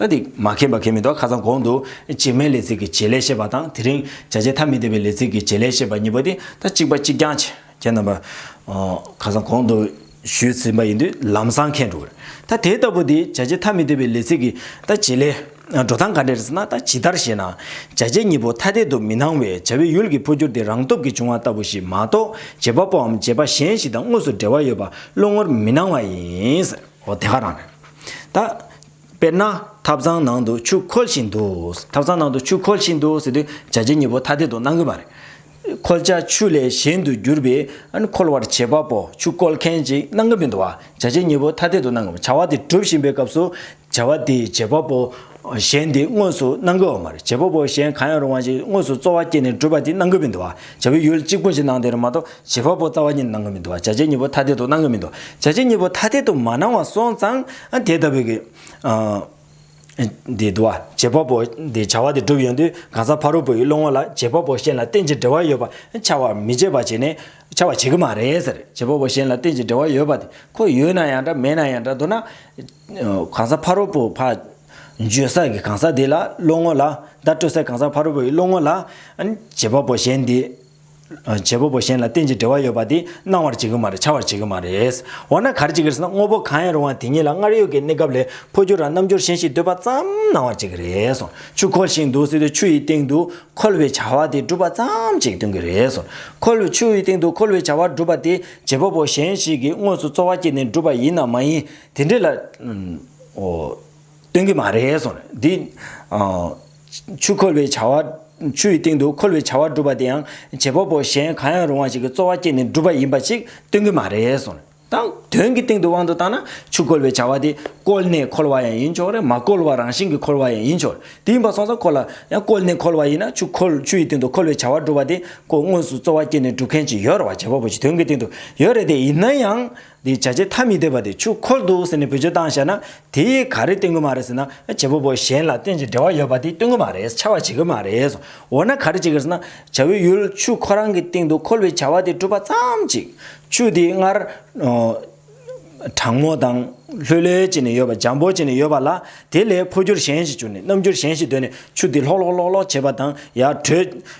ད་དེ་མ་མཁྱེན་པ་གལ་མི་འདུག་ཁ་སང་གོང་དུ་བྱེ་སྨྲའི་ལས་ཚིག་གི་བྱེད་ལས་ཤེས་པ་དང་དེ་རིང་བྱ་བྱེད་ཐ་མི་དད་པའི་ལས་ཚིག་གི་བྱེད་ལས་ཤེས་པ་གཉིས་པོ་དེ་ད་གཅིག་པ་གཅིག་རྐྱང་བྱེད་རྣམ་པ། ཁ་སང་གོང་དུ། ཞུས་ཟིན་པ་ཡིན་དུས་ལམ་སང་མཁས་འགྲོ་གི་རེད། ད་དེ་ལྟ་བུ་དེ་བྱ་བྱེད་ཐ་མི་དད་པའི་ལས་ཚིག་གི་ད་བྱེད་ལས། འགྲོ་སྟངས་ག་འདྲས་རེད་ཟེར་ན་ད་ཇི་ལྟར་ཞེས་ན། བྱ་བྱེད་གཉིས་པོ་ཐ་དད་དུ་མི་སྣང་བས་བྱ་བའི་ཡུལ་གྱི་འཕོ་འགྱུར་དེ་རང་སྟོབས་ཀྱིས་བྱུང་བ་ལྟ་བུ་ཞིག་མ་གཏོགས་བྱེད་པ་པོའམ་བྱེད་པ་གཞན་ཞིག་དང་དངོས་སུ་འབྲེལ་བ་ཡོད་པ་བློ་ངོར་མི་སྣང་བ་ཡིན། འོ་དེ་ག་རང་རེད། ད། དཔེར་ན། ཐབ་ཚང་ནང་དུ་ཆུ་ཁོལ་བཞིན་འདུག་ཐབ་ཚང་ནང་དུ་ཆུ་ཁོལ་བཞིན་འདུག་ཟེར་དུས་བྱ་བྱེད་གཉིས་པོ་ཐ་དད་དུ་སྣང་གི་མ་རེད། འཁོལ་བྱ་ཆུ་ལས་གཞན་དུ་གྱུར་པས་འཁོལ་བར་བྱེད་པ་པོ་ཆུ་བསྐོལ་མཁན་གྱི་སྣང་ངམ་མི་འདུག་བ་བྱ་བྱེད་གཉིས་པོ་ཐ་དད་དུ་སྣང་ངམ་བྱ་བ་དེ་གྲུབ་བཞིན་པའི་སྐབས་སུ་བྱ་བ་དེའི་བྱེད་པ་པོ་གཞན་དེ་དངོས་སུ་སྣང་གི་འོག་མར་བྱེད་པ་པོ་གཞན་གང་ཡང་རུང་བ་ཞིག་དངོས་སུ་རྩོལ་བ་སྐྱེས་ནས་གྲུབ་པ་དེ་སྣང་གི་མི་འདུག་བ་བྱ་བའི་ཡུལ་གཅིག་པུ་གྱི་སྣང་དེར་མ་གཏོགས་བྱེད་པ་པོ་རྩ་བ་ཉིད་སྣང་གི་མི་འདུག་བ་བྱ་བྱེད་གཉིས་པོ་ཐ་དད་དུ་སྣང་གི་མི་འདུག་བྱ་བྱེད་གཉིས་པོ་ཐ་དད་དུ་མ་སྣང་བ་སོང་ཙང་དེ་ལྟ་བུའི། འདི་དུ་བ་རྗེ་དཔའ་བོ་འདི་བྱ་བ་འདི་སྒྲུབ་ཡོང་དུས་གང་ཟག་ཕ་རོལ་པོ་ཡི་བློ་ངོ་ལ་རྗེ་དཔའ་བོ་གཞན་ལ་རྟེན་ཅིང་འབྲེལ་བ་ཡོད་པ་འཆའ་བར་མི་བྱེད་པ་བྱེད་ནས་འཆའ་བར་བྱེད་ཀྱི་མ་རེད་ཟེར་རྗེ་དཔའ་བོ་གཞན་ལ་རྟེན་ཅིང་འབྲེལ་བ་ཡོད་པ་དེ་ཁོ་ཡོད་ན་ཡང་འདྲ་མེད་ན་ཡང་འདྲ་མདོར་ན་གང་ཟག་ཕ་རོལ་པོ་ཕ་འཇོན་ས་ཀྱི་གང་ཟག་འདི་ལ་བློ་ངོ་ལ་བརྡ་སྤྲོད་སའི་གང་ཟག་ཕ་རོལ་པོ་ཡི་བློ་ངོ་ལ་རྗེ་དཔའ་བོ་གཞན་འདི་བྱེད་པོ་པོ་གཞན་ལ་རྟེན་གྱི་འབྲེལ་བ་ཡོད་པ་དེ་སྣང་བར་བྱེད་ཀྱི་མ་རེད་བྱ་བར་བྱེད་ཀྱི་མ་རེད། འོ་ན་གར་བྱེད་ཀྱི་རེད་ན་དངོས་པོ་གང་ཡང་རུང་བ་དེ་ཉིད་ལ་སྔར་ཡོད་ཀྱི་གནས་སྐབས་ལས་འཕོ་འགྱུར་རམ་རྣམ་འགྱུར་གཞན་ཞིག་འདོད་པ་ཙམ་སྣང་བར་བྱེད་ཀྱི་རེད་སོ། ཆུ་ཁོལ་ཞིག་འདུག་ཟེར་དུས་ཆུ་ཡི་སྟེང་དུ་ཁོལ་བའི་བྱ་བ་དེ་སྒྲུབ་པ་ཙམ་ཅིག་སྟོན་གྱི་རེད་སོ། ཁོལ་བའི་ཆུ་ཡི་སྟེང་དུ་ཁོལ་བའི་བྱ་བ་སྒྲུབ་པ་དེ་བྱེད་པོ་པོ་གཞན་ཞིག་གིས་དངོས་སུ་རྩོལ་བ་བསྐྱེད་ནས་བསྒྲུབས་པ་ཡིན་ནམ་མ་ཡིན། དེ་འདྲའི་ལ། སྟོན་གྱི་མ་རེད་གསུངས། འདི། ཆུ་ཁོལ་བའི་བྱ་བ། ཆུ་ཡི་སྟེང་དུ་ཁོལ་བའི་བྱ་བ་སྒྲུབ་པ་དེ་ཡང་བྱེད་པོ་པོ་གཞན་གང་ཡང་རུང་བ་ཞིག་གི་རྩོལ་བ་བསྐྱེད་ནས་སྒྲུབ་པ་ཡིན་པ་ཞིག་སྟོན་གྱི་མ་རེད་གསུངས། དང། དོན་གྱི་སྟེང་དུ་དབང་དུ་བཏང་ན་ཆུ་ཁོལ་བའི་བྱ་བ་དེ་བསྐོལ་ནས་ཁོལ་བ་ཡང་ཡིན་ཆོག་རེད་མ་བསྐོལ་བར་རང་བཞིན་གྱིས་ཁོལ་བ་ཡང་ཡིན་ཆོག་རེད་དེ་ཡིན་པ་སོང་ཙང་ཁོ་ལ་ཡང་བསྐོལ་ནས་ཁོལ་བ་ཡིན་ན་ཆུ་ཁོལ་ཆུ་ཡི་སྟེང་དུ་ཁོལ་བའི་བྱ་བ་སྒྲུབ་པ་དེ་ཁོ་དངོས་སུ་རྩོལ་བ་བསྐྱེད་ནས་སྒྲུབ་མཁན་ཞིག་ཡོད་རེད་བ་བྱེད་པོ་པོ་ཞིག་དོན་གྱི་སྟེང་དུ་ཡོད་རེད་དེ་ཡིན་ན་ཡང་འདི་བྱ་བྱེད་ཐ་མི་དད་པ་དེ་ཆུ་འཁོར་འདུག་ཟེར་ནས་བེད་སྤྱོད་བཏང་བཤད་ན་དེ་ཡིས་ག་རེ་སྟོན་གི་མ་རེད་ཟེར་ན་བྱེད་པོ་པོ་གཞན་ལ་རྟེན་ཅིང་འབྲེལ་བ་ཡོད་པ་དེ་སྟོན་གི་མ་རེད་འཕྱ་བ་བྱེད་གི་མ་རེད། འོ་ན་ག་རེ་བྱེད་གི་རེད་ཟེར་ན་བྱ་བའི་ཡུལ་ཆུ་ཁོ་རང་གི་སྟེང་དུ་འཁོར་བའི་བྱ་བ་དེ་སྒྲུབ་པ་ཙམ་གཅིག་ཆུ་དེ་སྔར་གྲང་མོ་དང་ལྷོད་ལྷོད་བྱེད་ནས་ཡོད་པ་འཇམ་པོ་བྱེད་ནས་ཡོད་པ་ལ་དེ་ལས་འཕོ་འགྱུར་གཞན་ཞིག་བྱུང་ནས་རྣམ་འགྱུར་གཞན་ཞིག་སྡོད་ནས་ཆུ་དེ་ལྷོག་ལྷོག་ལྷོག་ལྷོག་བྱེད་པ་དང་ཡར་བྲོས།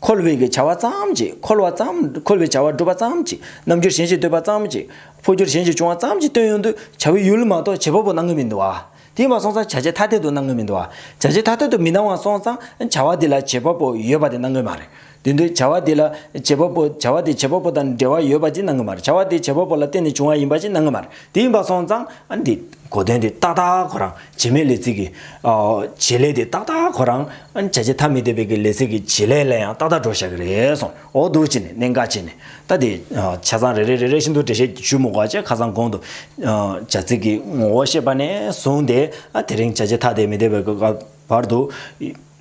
འཁོར་བའི་བྱ་བ་ཙམ་གྱིས་འཁོར་བ་ཙམ། འཁོར་བའི་བྱ་བ་སྒྲུབ་པ་ཙམ་གྱིས་རྣམ་འགྱུར་གཞན་གྱིས་བསྟོད་པ་ཙམ་གྱིས་འཕོ་འགྱུར་གཞན་གྱིས་བྱུང་བ་ཙམ་གྱིས་དོན་ཡོང་དུ་བྱ་བའི་ཡུལ་མ་གཏོགས་བྱེད་པ་པོ་སྣང་གི་མི་འདུག་ཨ། དེས་མ་སོང་ཙང་བྱ་བྱེད་ཐ་དད་དུ་སྣང་གི་མི་འདུག་ཨ། བྱ་བྱེད་ཐ་དད་དུ་མི་སྣང་བ་སོང་ཙང་བྱ་བ་དེ་ལ་བྱེད་པ་པོ་ཡོད་པ་དེ་སྣང་གི་མ་རེད། དེ་འདུག་བྱ་བ་དེ་ལ་བྱེད་པ་པོ་བྱ་བ་དེ་བྱེད་པ་པོ་དང་འབྲེལ་བ་ཡོད་པ་ཅིག་སྣང་གི་མ་རེད་བྱ་བ་དེ་བྱེད་པ་པོ་ལ་བརྟེན་ནས་བྱུང་བ་ཡིན་པ་ཅིག་སྣང་གི་མ་རེད་དེ་ཡིན་པ་སོང་ཙང། འདི་གོ་དོན་དེ་ཏག་ཏག་ཁོ་རང་བྱེ་མའི་ལས་ཚིག་གི། བྱེད་ལས་དེ་ཏག་ཏག་གོ་རང། བྱ་བྱེད་ཐ་མི་དད་པའི་གི་ལས་ཚིག་གི་བྱེད་ལས་ལ་ཡང་ཏག་ཏག་འགྲོ་བཞག་གི་རེད་སོང་ཨོ་འདུག་ཅེས་ནས་གནད་འགག་ཅེས་ནས་ལྟ་དེ། ཆ་ཚང་རེ་རེ་རེ་རེ་བཞིན་དུ་འགྲེལ་བཤད་ཀྱི་ཤུབ་མོ་འགོག་བྱེད་ཁ་སང་གོང་དུ། བྱ་ཚིག་གི་ངོ་བོ་ཤེས་པ་ནས་བཟུང་སྟེ། དེ་རིང་བྱ་བྱེད་ཐ་དད་མི་དད་པའི་གི་སྐབས་བར་དུ།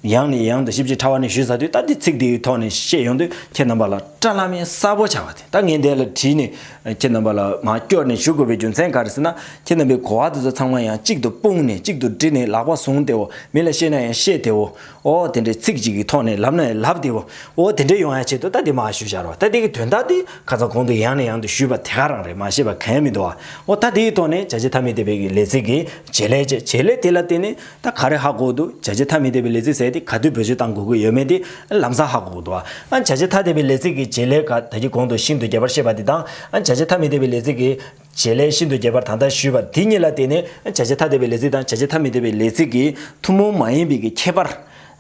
ཡང་ནས་ཡང་དུ་ཞིབ་ཅིང་ཕྲ་བ་ནས་ཞུ་ས་དུས་ལྟར་དེ་ཚིག་དེའི་ཐོག་ནས་བཤད་ཡོང་དུས་ཁྱེད་རྣམ་པ་ལ་བཀྲ་བླ་མའི་གསར་བོ་བྱ་བ་དེ་ད་ངས་འདས་ལ་བྲིས་ནས་ཁྱེད་རྣམ་པ་ལ་མ་བསྐྱོར་ནས་ཞུ་དགོས་པའི་རྒྱུ་མཚན་ག་རེ་ཟེར་ན་ཁྱེད་རྣམ་པའི་གོ་བ་དེ་ཚོ་ཚང་མ་ཡང་གཅིག་ཏུ་སྤུངས་ནས་གཅིག་ཏུ་དྲིལ་ནས་ལག་པ་བཟུང་སྟེའོ་མི་ལ་བཤད་ན་ཡང་བཤད་དེའོ་ཨོ་དེ་འདྲའི་ཚིག་ཅིག་གི་ཐོག་ནས་ལབ་ན་ཡང་ལབ་དེའོ་ཨོ་དེ་འདྲའི་ཡོང་ཡ་བྱེད་དུ་ད་དེ་མ་ཞུ་བཞར་བ་ད་དེ་གི་དོན་དག་དེ་ཁ་ཚ་གོང་དུ་ཡང་ནས་ཡང་དུ་ཞུས་པ་དེ་ག་རང་རེད་མ་ཤེས་པ་ག་ཡང་མི་འདུག་ཨོ་ད་དེའི་ཐོག་ནས་བྱ་བྱེད་ཐ་མི་དད་པའི་གི་ལས་ཚིག་གི་བྱེད་ལས་བྱེད་ལས་དེ་ལ་བརྟེན་ནས། ད་ག་རེ་ཧ་གོ་འདུག་བྱ་བྱེད་ཐ་མི་དད་པའི་ལས་ཚིག་ཟེར་ཏེ་ག་དུས་བོད་ཆོལ་དང་འགོག་གི་ཡོད་མེད་དེ་ལམ་སང་ཧ་གོ་འདུག་ཨ་བྱ་བྱེད་ཐ་དད་པའི་ལས་ཚིག་གི་བྱེད་ལས་ཀ་ད་གི་གོང་དུ་ཤིན་ཏུ་རྒྱས་པར་བཤད་པ་དེ་དང་ཨ་བྱ་བྱེད་ཐ་མི་དད་པའི་ལས་ཚིག་གི་བྱེད་ལས་ཤིན་ཏུ་རྒྱས་པར་ད་ལྟ་ཞུས་པ་དེ་གཉིས་ལ་བརྟེན་ནས་ཨ་བྱ་བྱེད་ཐ་དད་པའི་ལས་ཚིག་དང་བྱ་བྱེད་ཐ་མི་དད་པའི་ལས་ཚིག་གི་ཐུན་མོང་མ་ཡིན་པའི་གི་ཁྱད་པར་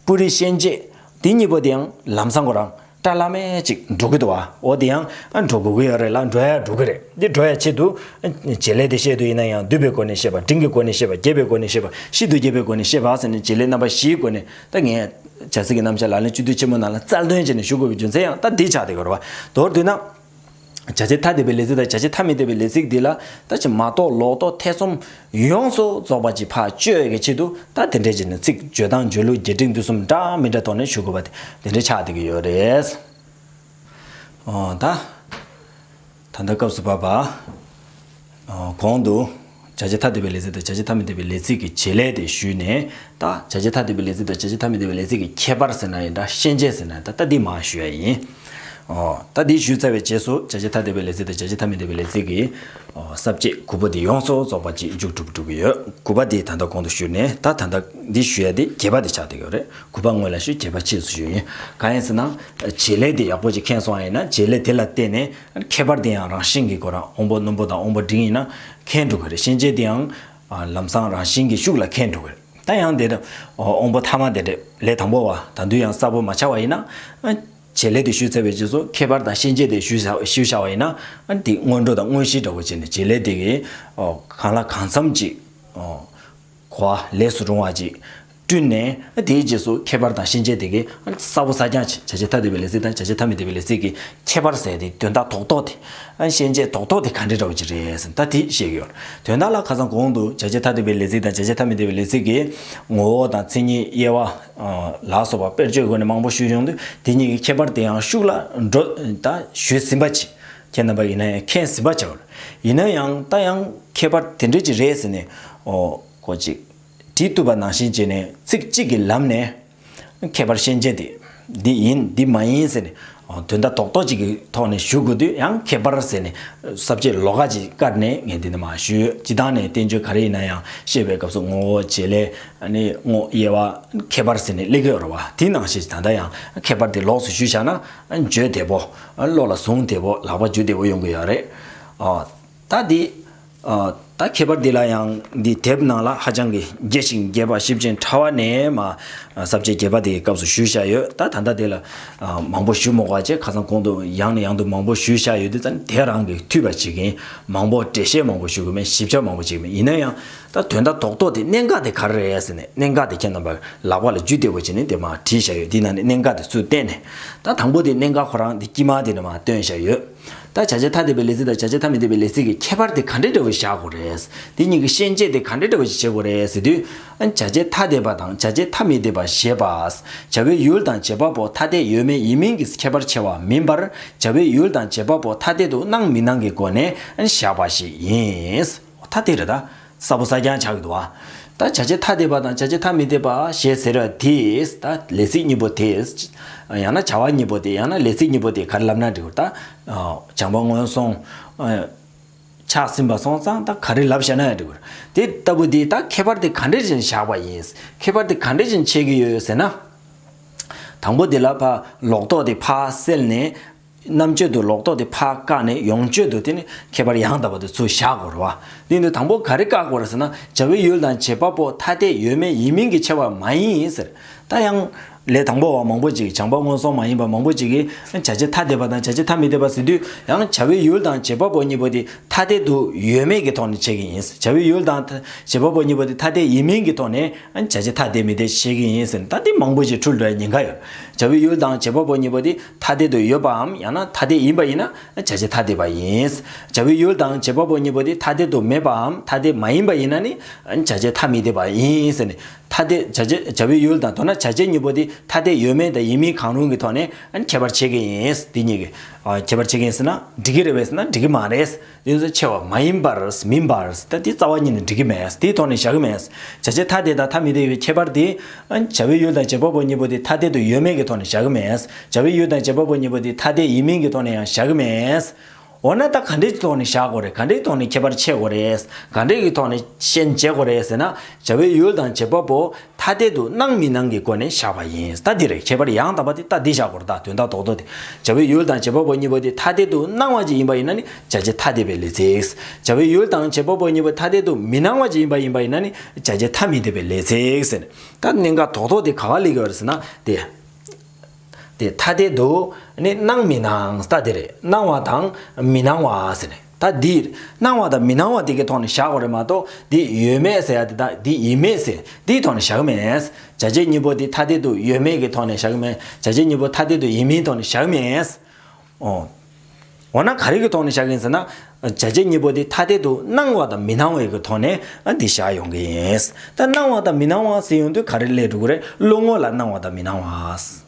སྤུ་རིས་ཤན་འབྱེད་དེ་གཉིས་པོ་དེའང་ལམ་སང་གོ་རང་སྐྲ་བླ་མེད་ཅིག་འགྲོ་གི་འདུག་བ་འོ་དེ་ཡང་འགྲོ་དགོས་ཀྱི་ཡོད་རེད་ལ་འགྲོ་ཡ་འགྲོ་གི་རེད་འདི་འགྲོ་ཡ་ཆེད་དུ། བྱེད་ལས་དེ་བཤད་དུ་ཡིན་ན་ཡང་བསྡུས་པའི་སྒོ་ནས་བཤད་པ་འབྲིང་གི་སྒོ་ནས་བཤད་པ་རྒྱས་པའི་སྒོ་ནས་བཤད་པ་ཤིན་ཏུ་རྒྱས་པའི་སྒོ་ནས་བཤད་པ་ཟེར་ནས་བྱེད་ལས་རྣམ་པ་བཞིའི་སྒོ་ནས་ད་ངས། བྱ་ཚིག་གི་རྣམ་བཤད་ལག་ལེན་སྤྱི་འཐུས་ཆེན་མོ་རྣམས་ལ་རྩལ་འདོན་བྱས་ནས་ཞུ་དགོས་པའི་རྒྱུ་མཚན་ཡང་ད་འདིས་ཆགས་ཏེ་གོ་རེ་བ། མདོར་བསྡུས་ན། བྱ་བྱེད་ཐ་དད་པའི་ལས་ཚིག་དང་བྱ་བྱེད་ཐ་མི་དད་པའི་ལས་ཚིག་འདི་ལ་ད་ཅི་མ་གཏོགས་ལོག་རྟོག་ཐེ་ཚོམ་ཡོངས་སུ་རྫོགས་པ་ཅིག་བག་བཅོས་ཀྱི་ཆེད་དུ་ད་དེ་འདྲའི་རྗེས་ནས་ཚིག་བརྗོད་དང་བརྗོད་ལུགས་རྒྱས་འབྲིང་བསྡུས་གསུམ་འདྲ་མི་འདྲ་ཐོག་ནས་ཞུ་དགོས་པ་དེ་དེ་འདྲའི་ཆགས་བསྡད་ཀྱི་ཡོད་རེད། ཨོ་ད། ད་ལྟ་སྐབས་སུ་བབས་པ། གོང་དུ། བྱ་བྱེད་ཐ་དད་པའི་ལས་ཚིག་དང་བྱ་བྱེད་ཐ་མི་དད་པའི་ལས་ཚིག་གི་བྱེད་ལས་དེ་ཞུས་ནས་ད། བྱ་བྱེད་ཐ་དད་པའི་ལས་ཚིག་དང་བྱ་བྱེད་ཐ་མི་དད་པའི་ལས་ཚིག་གི་ཁྱད་པར་ཟེར་ན་ཡིན་དྲ་ཤེས་འབྱེད་ཟེར་ན་ཡིན་ད་ལྟ་འདི་མ་ཞུས་ཡ་ཡིན། ད་འདི་ཞུས་ཚར་བའི་རྗེས་སུ་བྱ་བྱེད་ཐ་དད་པའི་ལས་ཚིག་དང་བྱ་བྱེད་ཐ་མི་དད་པའི་ལས་ཚིག་གི། གསར་བརྗེ་གུ་པ་འདི་ཡོངས་སུ་རྫོགས་པ་གཅིག་མཇུག་གྲུབ་གྲུབ་ཀྱི་ཡོད་གུ་པ་འདི་ད་ལྟ་གོང་དུ་ཞུས་ནས་ད་ད་ལྟ་འདི་ཞུས་ཡ་འདི་གྱེས་པ་འདི་ཆགས་འདུག་ཡོད་རེད་གུ་པ་སྔོན་ལ་ཞུས་གྱེས་པ་ཕྱིས་སུ་ཞུས་ཡིན་གང་ཡིན་ཟེར་ན། བྱེད་ལས་འདི་ཡག་པོ་ཅིག་མཁྱེན་སོང་ཡ་ཡིན་ན་བྱེད་ལས་དེ་ལ་བརྟེན་ནས། ཁྱད་པར་དེ་ཡང་རང་བཞིན་གྱི་སྒོ་རང་འོང་པོ་རྣོན་པོ་དང་འོང་པོ་འབྲིང་ཡིན་ན་ཁེངས་འགྲོ་གི་རེད་ཤན་འབྱེད་དེ་ཡང་ལམ་སང་རང་བཞིན་གྱི་ཤུགས་ལ་ཁེངས་འགྲོ་གི་རེད་ད་ཡང་དེར་འོང་པོ་ཐ་མ་དེ་འདྲེ་ལས་དང་པོ་བ་ད་དུས་ཡང་གསར་བུ་མ་ཆགས་བ་ཡིན་ན། བྱེད་ལས་དེ་ཞུས་ཚར་བའི་རྗེས་སུ་ཁྱད་པར་དང་ཤན་འབྱེད་དེ་ཞུས་ཞུས་བཞག་བ་ཡིན་ན། དེ་སྔོན་འགྲོ་དང་དངོས་གཞི་འདྲ་བོ་བྱས་ནས་བྱེད་ལས་དེ་གང་ལ་གང་འཚམ་ཅིག། གོ་བ་ལས་སུ་རུང་བ་གཅིག་བསྐྲུན་ནས་དེའི་རྗེས་སུ་ཁྱད་པར་དང་ཤེས་བྱའི་དེ་གའི་གསལ་བོ་གསལ་རྐྱང་བྱ་བྱེད་ཐ་དད་པའི་ལས་ཚིག་དང་བྱ་བྱེད་ཐ་མི་དད་པའི་ལས་ཚིག་གི་ཁྱད་པར་གསལ་ཏེ་དོན་དག་ཐོག་རྟོགས་དེ། ཤེས་བྱའི་ཐོག་རྟོགས་དེ་གང་འདྲའི་འདྲ་བ་ཅིག་རེད་ཟེར་ཐ་དེ་ཤེས་ཀྱི་ཡོད། དོན་དག་ལ་ཁ་སང་གོང་དུ་བྱ་བྱེད་ཐ་དད་པའི་ལས་ཚིག་དང་བྱ་བྱེད་ཐ་མི་དད་པའི་ལས་ཚིག་གི་ངོ་བོ་དང་མཚན་ཉིད་དབྱེ་བ། ལ་སོགས་པ་དཔེར་བརྗོད་སྒོ་ནས་མང་པོ་ཞུས་ཡོང་དུས་དེ་གཉིས་ཀྱི་ཁྱད་པར་དེའང་ཤུགས་ལ་འགྲོ་ད་ཞུས་ཟིན་པ་ཇི་ཁྱེད་རྣམ་པ་ཡིན་ན་ཡང་ཁྱེད་ཟིན་པ་ཆགས། ཡིན་ན་ཡང་ད་ཡང་ཁྱད་པར་དེ་འདྲས་ཀྱི་རེད་ཟེར་ནས་ཨོ། ཁོ་ཅིག། དྲིས་བཏུབ་པ་ནང་བཞིན་བྱས་ནས་ཚིག་གཅིག་གི་ལམ་ནས། ཁྱད་པར་ཤན་འབྱེད་དེ། འདི་ཡིན་འདི་མ་ཡིན་ཟེར་ནས་དོན་དག་རྡོག་རྡོག་ཅིག་གི་ཐོག་ནས་ཞུ་དགོས་དུས་ཡང་ཁྱད་པར་ཟེར་ནས་གསབ་ཆེད་ལོག་ཀ་ཅིག་བཀར་ནས་ངས་འདི་འདི་མ་ཞུས་སྤྱི་བཏང་ནས་བསྟན་བཅོས་ག་རེ་ཡིན་ན་ཡང་བཤད་པའི་སྐབས་སུ་ངོ་བོ་བྱེད་ལས། ནི་ངོ་དབྱེ་བ། ཁྱད་པར་ཟེར་ནས་གླེགས་བར་བ་དེ་ནང་བཞིན་ད་ལྟ་ཡང་ཁྱད་པར་དེ་ལོགས་སུ་ཞུས་བཞག་ན་འགྱོད་དད་པོ། བློ་ལ་བཟུང་བདེ་བོ་ལག་པ་འཇུ་བདེ་བོ་ཡོང་གི་ཡོད་རེད། ད་འདི། ད་ཁྱད་པར་འདི་ལ་ཡང་འདི་དེབ་ནང་ལ་ཧ་ཅང་གི་རྒྱས་ཤིང་རྒྱས་པ་ཞིབ་ཅིང་ཕྲ་བ་ནས་མ་ཟབ་ཅེས་རྒྱས་པ་དེ་ཡི་སྐབས་སུ་ཞུས་བཞག་ཡོད་ད་ད་ལྟ་དེ་ལ་མང་པོ་ཞུ་མི་དགོས་ཅེས་ཁ་སང་གོང་དུ་ཡང་ནས་ཡང་དུ་མང་པོ་ཞུས་བཞག་ཡོད་དུས་ད་ནི་དེ་རང་གིས་འཐུས་པ་བྱེད་ཀྱིན་མང་པོ་འགྲེལ་བཤད་མང་པོ་ཞུ་དགོས་མིན་ཞིབ་ཆ་མང་པོ་བྱེད་ཀྱི་མིན་ཡིན་ན་ཡང། ད་དོན་དག་དོག་དོག་དེ་གནད་འགག་དེ་ག་རེ་རེད་ཟེར་ནས་གནད་འགག་དེ་ཁྱེད་རྣམ་པར་ལག་པ་ལ་རྒྱུས་བདེ་བོ་བྱས་ནས་དེ་མ་བྲིས་བཞག་ཡོད་དེའི་ནང་ནས་གནད་འགག་དེ་ཚུར་བསྟན་ནས་ད་དང་པོ་དེ་གནད་འགག་ཁོ་རང་དེ་དཀྱིས་མ་དེ་ནས་མ་བཏོན་བཞག་ཡོད། ད་བྱ་བྱེད་ཐ་དད་པའི་ལས་ཚིག་དང་བྱ་བྱེད་ཐ་མི་དད་པའི་ལས་ཚིག་གི་ཁྱད་པར་དེ་ག་འདྲའི་འདྲ་བོ་བཞག་དགོས་རེད། དེ་གཉིས་ཀྱི་ཤན་འབྱེད་དེ་ག་འདྲའི་འདྲ་བོ་ཞིག་བྱེད་དགོས་རེད་ཟེར་དུས། བྱ་བྱེད་ཐ་དད་པ་དང་བྱ་བྱེད་ཐ་མི་དད་པ་ཞེས་པ། བྱ་བའི་ཡུལ་དང་བྱེད་པ་པོ་ཐ་དད་ཡོད་མེད་ཡིན་མིན་གྱི་ཁྱད་པར་ཕྱེ་བ་མིན་པར་བྱ་བའི་ཡུལ་དང་བྱེད་པ་པོ་ཐ་དད་དུ་སྣང་མི་སྣང་གི་སྒོ་ནས་བཞག་པ་ཞིག་ཡིན། ཐ་དད་རེད་ད། ས་ཕོ་ས་རྐྱང་ཆགས་ཡོད་དོ། ད་བྱ་བྱེད་ཐ་དད་པ་དང་བྱ་བྱེད་ཐ་མི་དད་པ་ཞེས་ཟེར་བ་དེས་ད་ལས་ཚིག་གཉིས་པོ་དེས། ཡང་ན་བྱ་བ་གཉིས་པོ་དེ་ཡང་ན་ལས་ཚིག་གཉིས་པོ་དེ་གར་ལབ་ན་འགྲིག་གོ་ད། བྱང་པ་སྔོན་སོང། ཆགས་ཟིན་པ་སོང་ཙང་ད་ག་རེ་ལབ་ཤེས་ན་ཡང་འགྲིག་གོ། དེ་ལྟ་བུ་དེས་ད་ཁྱད་པར་དེ་ག་འདྲས་བཞིན་བཞག་པ་ཡིན། ཁྱད་པར་དེ་ག་འདྲས་བཞིན་འཆད་ཀྱི་ཡོད་ཟེར་ན། དང་པོ་དེ་ལ་ཕ་ལོག་རྟོག་དེ་ཕ་སེལ་ནས། རྣམ་གཅོད་དུ་ལོག་རྟོག་དེ་ཕ་བཀག་ནས་ཡོངས་གཅོད་དུ་དེ་ནི་ཁྱད་པར་ཡང་དག་པ་དུ་ཚུར་བཞག་གོ་རེ་བ། དེ་ནི་དང་པོ་ག་རེ་བཀག་གོ་རེ་ཟེར་ན་བྱ་བའི་ཡུལ་དང་བྱེད་པ་པོ་ཐ་དད་ཡོད་མེད་ཡིན་མིན་གྱི་ཕྱེ་བ་མ་ཡིན་ཡིན་ཟེར། ད་ཡང། ལས་དང་པོ་བ་མང་པོ་ཅིག་བྱང་པ་སྔོན་སོང་མ་ཡིན་པ་མང་པོ་ཅིག་གིས་བྱ་བྱེད་ཐ་དད་པ་དང་བྱ་བྱེད་ཐ་མི་དད་པ་ཟེར་དུས་ཡང་བྱ་བའི་ཡུལ་དང་བྱེད་པ་པོ་གཉིས་པོ་དེ་ཐ་དད་དུ་ཡོད་མེད་ཀྱི་ཐོག་ནས་འཆད་ཀྱི་ཡིན། བྱ་བའི་ཡུལ་དང། བྱེད་པ་པོ་གཉིས་པོ་དེ་ཐ་དད་ཡིན་མིན་གྱི་ཐོག་ནས་བྱ་བྱེད་ཐ་དད་མི་དད་བཤད་ཀྱི་ཡིན་ཟེར་ན་ད་འདི་མང་པོ་ཅིག་འཁྲུལ་འགྲོ་ཡ་ཉེན་ཁ་ཡོད། བྱ་བའི་ཡུལ་དང་བྱེད་པ་པོ་གཉིས་པོ་དེ། ཐ་དད་དུ་ཡོད་པའམ་ཡང་ན་ཐ་དད་ཡིན་པ་ཡིན་ན་བྱ་བྱེད་ཐ་དད་པ་ཡིན། བྱ་བའི་ཡུལ་དང་བྱེད་པ་པོ་གཉིས་པོ་དེ་ཐ་དད་དུ་མེད་པའམ་ཐ་དད་མ་ཡིན་པ་ཡིན་ན་ནི་བྱ་བྱེད་ཐ་མི་དད་པ་ཡིན། ཟེར་ནས། ཐ་དད་བྱ་བྱེད་བྱ་བའི་ཡུལ་དང་དོ་ན་བྱ་བྱེད་གཉིས་པོ་དེ་ཐ་དད་ཡོད་མེད་དང་ཡིན་མིན་གང་རུང་གི་ཐོག་ནས་ཁྱད་པར་ཕྱེ་གི་ཡིན། དེ་གཉིས་ཀྱི་ཁྱད་པར་ཕྱེ་གི་ཡིན་ཟེར་ན་འགྲིག་གི་རེད་བས་ན་འགྲིག་གི་མ་རེད། གཡོན་ཟེར་ཆེ་བ་མ་ཡིན་པར་མིན་པར་ད་དེ་རྩ་བ་ཉིད་ནས་འགྲིག་གི་མེད་དེའི་ཐོག་ནས་བཞག་གི་མེད། བྱ་བྱེད་ཐ་དད་དང་ཐ་མི་དད་ཡོད་ཁྱད་པར་དེ། བྱ་བའི་ཡུལ་དང་བྱེད་པ་པོ་གཉིས་པོ་དེ་ཐ་དད་དུ་ཡོད་མེད་ཀྱི་ཐོག་ནས་བཞག་གི་མེད། བྱ་བའི་ཡུལ་དང་བྱེད་པ་པོ་གཉིས་པོ་དེ་ཐ་དད་ཡིན་མིན་གྱི་ཐོག་ནས་ཡང་བཞག་གི་མེད། འོ་ན་ད་ག་འདྲེས་ཀྱི་ཐོག་ནས་བཞག་དགོས་རེད་ག་འདྲེས་ཀྱི་ཐོག་ནས་ཁྱད་པར་ཕྱེ་དགོས་རེད། ག་འདྲེས་ཀྱི་ཐོག་ནས་ཤན་འབྱེད་དགོས་རེད་ཟེར་ན། བྱ་བའི་ཡུལ་དང་བྱེད་པ་པོ་ཐ་དད་དུ་སྣང་མི་སྣང་གི་སྒོ་ནས་བཞག་པ་ཡིན། ལྟ་འདི་རེད་ཁྱད་པར་ཡང་དག་པ་དེ་ལྟ་འདི་བཞག་གོ་རྟགས་དོན་དག་རྟོག་རྟོག་སྟེ། བྱ་བའི་ཡུལ་དང་བྱེད་པ་པོ་གཉིས་པོ་དེ་ཐ་དད་དུ་སྣང་བ་ཅིག་ཡིན་པ་ཡིན་ན་ནི་བྱ་བྱེད་ཐ་དད་པའི་ལས་ཚེགས། བྱ་བའི་ཡུལ་དང་བྱེད་པ་པོ་གཉིས་པོ་ཐ་དད་དུ་མི་སྣང་བ་ཅིག་ཡིན་པ་ཡིན་པ་ཡིན་ན་ནི་བྱ་བྱེད་ཐ་མི་དད་པའི་ལས་ཚེགས། ད་གནད་འགག་དོག་དོག་དེ་ག་བ་ལས་གི་བ་རེད་ཟེར་ན། དེ། དེ་ཐ་དད་དུ་ནི་སྣང་མི་སྣང་ལྟ་དེ་རེད་སྣང་བ་དང་མི་སྣང་བ་ཟེར་ནས། ད་འདིར་སྣང་བ་དང་མི་སྣང་བ་དེ་གའི་ཐོག་ནས་བཞག་པ་རེད་མ་གཏོགས་འདི་ཡོད་མེད་ཟེར་ཡ་དེ་དག་འདི་ཡིན་མིན་ཟེར་འདིའི་ཐོག་ནས་བཞག་གི་མེད། བྱ་བྱེད་གཉིས་པོ་དེ་ཐ་དད་དུ་ཡོད་མེད་ཀྱི་ཐོག་ནས་བཞག་གི་མེད་བྱ་བྱེད་གཉིས་པོ་ཐ་དད་དུ་ཡིན་མིན་ཐོག་ནས་བཞག་གི་མེད། འོ་ན་ག་རེ་གི་ཐོག་ནས་བཞག་གི་ཡིན་ཟེར་ན། བྱ་བྱེད་གཉིས་པོ་དེ་ཐ་དད་དུ་སྣང་བ་དང་མི་སྣང་བའི་གི་ཐོག་ནས་འདི་བཞག་ཡོང་གི་ཡིན། ད་སྣང་བ་དང་མི་སྣང་བ་ཟེར་ཡོང་དུས་ག་རེ་ལས་གྲུབ་ཀི་རེད་བློ་ངོ་ལ་སྣང་བ་དང་མི་སྣང་བ།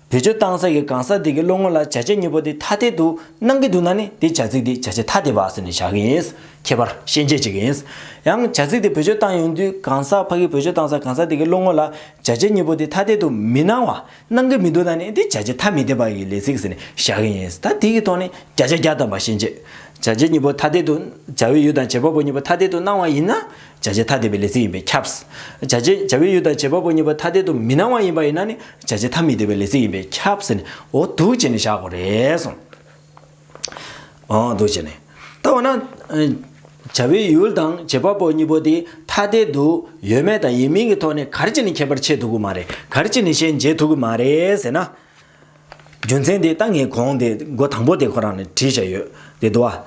བེད་སྤྱོད་གཏང་ས་ཀྱི་གང་ཟག་དེ་གི་བློ་ངོར་ལ་བྱ་བྱེད་གཉིས་པོ་དེ་ཐ་དད་དུ་སྣང་གི་འདུག་ན་ནི་དེའི་བྱ་ཚིག་དེ་བྱ་བྱེད་ཐ་དད་པ་ཟེར་ནས་བཞག་གི་ཡིན། ཁྱད་པར་ཤན་འབྱེད་བྱེད་ཀྱི་ཡིན། ཡང་བྱ་ཚིག་དེ་བེད་སྤྱོད་གཏང་ཡོང་དུས་གང་ཟག་ཕ་གིས་བེད་སྤྱོད་གཏང་ས་གང་ཟག་དེ་གི་བློ་ངོར་ལ་བྱ་བྱེད་གཉིས་པོ་དེ་ཐ་དད་དུ་མི་སྣང་བ་སྣང་གི་མི་འདུག་ན་ནི་དེ་བྱ་བྱེད་ཐ་མི་དད་པ་ཡི་ལས་ཚིག་ཟེར་ནས་བཞག་གི་ཡིན། ད་དེ་གི་ཐོག་ནས་བརྒྱ་ཆ་བརྒྱ་བཏབ་པ་ཤན་འབྱེད། བྱ་བྱེད་གཉིས་པོ་ཐ་དད་དུ། བྱ་བའི་ཡུལ་དང་བྱེད་པ་པོ་གཉིས་པོ་ཐ་དད་དུ་སྣང་བ་ཡིན་ན། བྱ་བྱེད་ཐ་དད་པའི་ལས་ཚིག་ཡིན་པས་ཁྱབ། བྱ་བྱེད་བྱ་བའི་ཡུལ་དང་བྱེད་པ་པོ་གཉིས་པོ་ཐ་དད་དུ་མི་སྣང་བ་ཡིན་པ་ཡིན་ན་ནི་བྱ་བྱེད་ཐ་མི་དད་པའི་ལས་ཚིག་ཡིན་པས་ཁྱབ། འོ་འདུག་ཅེས་ནི་བཞག་གོ། རེས་སོ། འོ་འདུག་ཅེས་ནི། ལྟ་བ་ན། བྱ་བའི་ཡུལ་དང་བྱེད་པ་པོ་གཉིས་པོ་དེ་ཐ་དད་དུ་ཡོད་མེད་དང་ཡིན་མིན་གྱི་ཐོག་ནས་གར་གྱིས་ནི་ཁྱད་པར་འབྱེད་ཐུབ་ཀྱི་མ་རེད། གར་གྱིས་ནི་ཤན་འབྱེད་ཐུབ་ཀྱི་མ་རེད་ཟེར་ན། རྒྱུ་མཚན་དེ་ལྟ་ངས་གོང་དེ་མགོ་དང་པོ་དེ་ཁོ་རང་ལ་དྲིས་བཞག་ཡོད་དེ་འདུག་བ།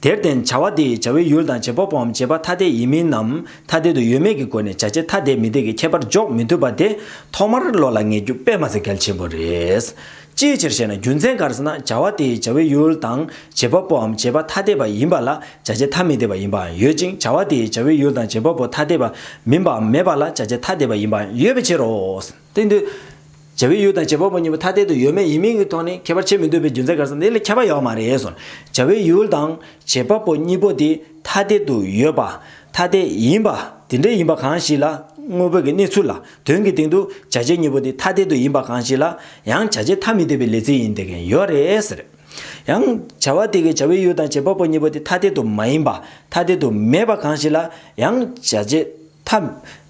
དེར་བརྟེན་བྱ་བ་དེའི་བྱ་བའི་ཡུལ་དང་བྱེད་པོ་པོའམ་བྱེད་པ་ཐ་དད་ཡིན་མིན་ནམ་ཐ་དད་དུ་ཡོད་མེད་ཀྱི་སྒོ་ནས་བྱ་བྱེད་ཐ་དད་མི་དད་ཀྱི་ཁྱད་པར་འཇོག་མི་ཐུབ་པ་དེ་ཐོག་མར་བློ་ལ་ངེས་རྒྱུ་དཔེ་མ་ཟད་གལ་ཆེན་པོ་རེད། ཅིའི་ཕྱིར་ཞེ་ན་རྒྱུ་མཚན་གར་སོང་ན་བྱ་བ་དེའི་བྱ་བའི་ཡུལ་དང་བྱེད་པོ་པོའམ་བྱེད་པ་ཐ་དད་པ་ཡིན་པ་ལ་བྱ་བྱེད་ཐ་མི་དད་པ་ཡིན་པའང་ཡོད་ཅིང་བྱ་བ་དེའི་བྱ་བའི་ཡུལ་དང་བྱེད་པོ་པོ་ཐ་དད་པ་མིན་པའམ་མེད་པ་ལ་བྱ་བྱེད་ཐ་དད་པ་ཡིན་པའང་ཡོད་པའི་ཕྱིར་རོ། སྟེང་དུ། བྱ་བའི་ཡུལ་དང་བྱེད་པ་པོ་གཉིས་པོ་ཐ་དད་དུ་ཡོད་མེད་ཡིན་མིན་གྱི་ཐོག་ནས་ཁྱད་པར་ཕྱེ་མི་འདོད་པའི་རྒྱུ་མཚན་ག་ས་འདི་ལས་ཁྱབ་པ་ཡོད་མ་རེད་ཟེར། བྱ་བའི་ཡུལ་དང་བྱེད་པ་པོ་གཉིས་པོ་དེ་ཐ་དད་དུ་ཡོད་པ། ཐ་དད་ཡིན་པ། དེ་འདྲ་ཡིན་པ་གང་ཞིག་ལ། དངོས་པོ་གི་གནས་ཚུལ་ལ། དོན་གྱི་སྟེང་དུ། བྱ་བྱེད་གཉིས་པོ་དེ་ཐ་དད་དུ་ཡིན་པ་གང་ཞིག་ལ། ཡང་བྱ་བྱེད་ཐ་མི་དད་པའི་ལས་ཚིག་ཡིན་དེ་གན་ཡོད་རེད་ཟེར། ཡང། བྱ་བ་དེ་གའི་བྱ་བའི་ཡུལ་དང་བྱེད་པ་པོ་གཉིས་པོ་དེ་ཐ་དད་དུ་མ་ཡིན་པ། ཐ་དད་དུ་མེད་པ་གང་ཞིག་ལ། ཡང། བྱ་བྱེད། ཐ།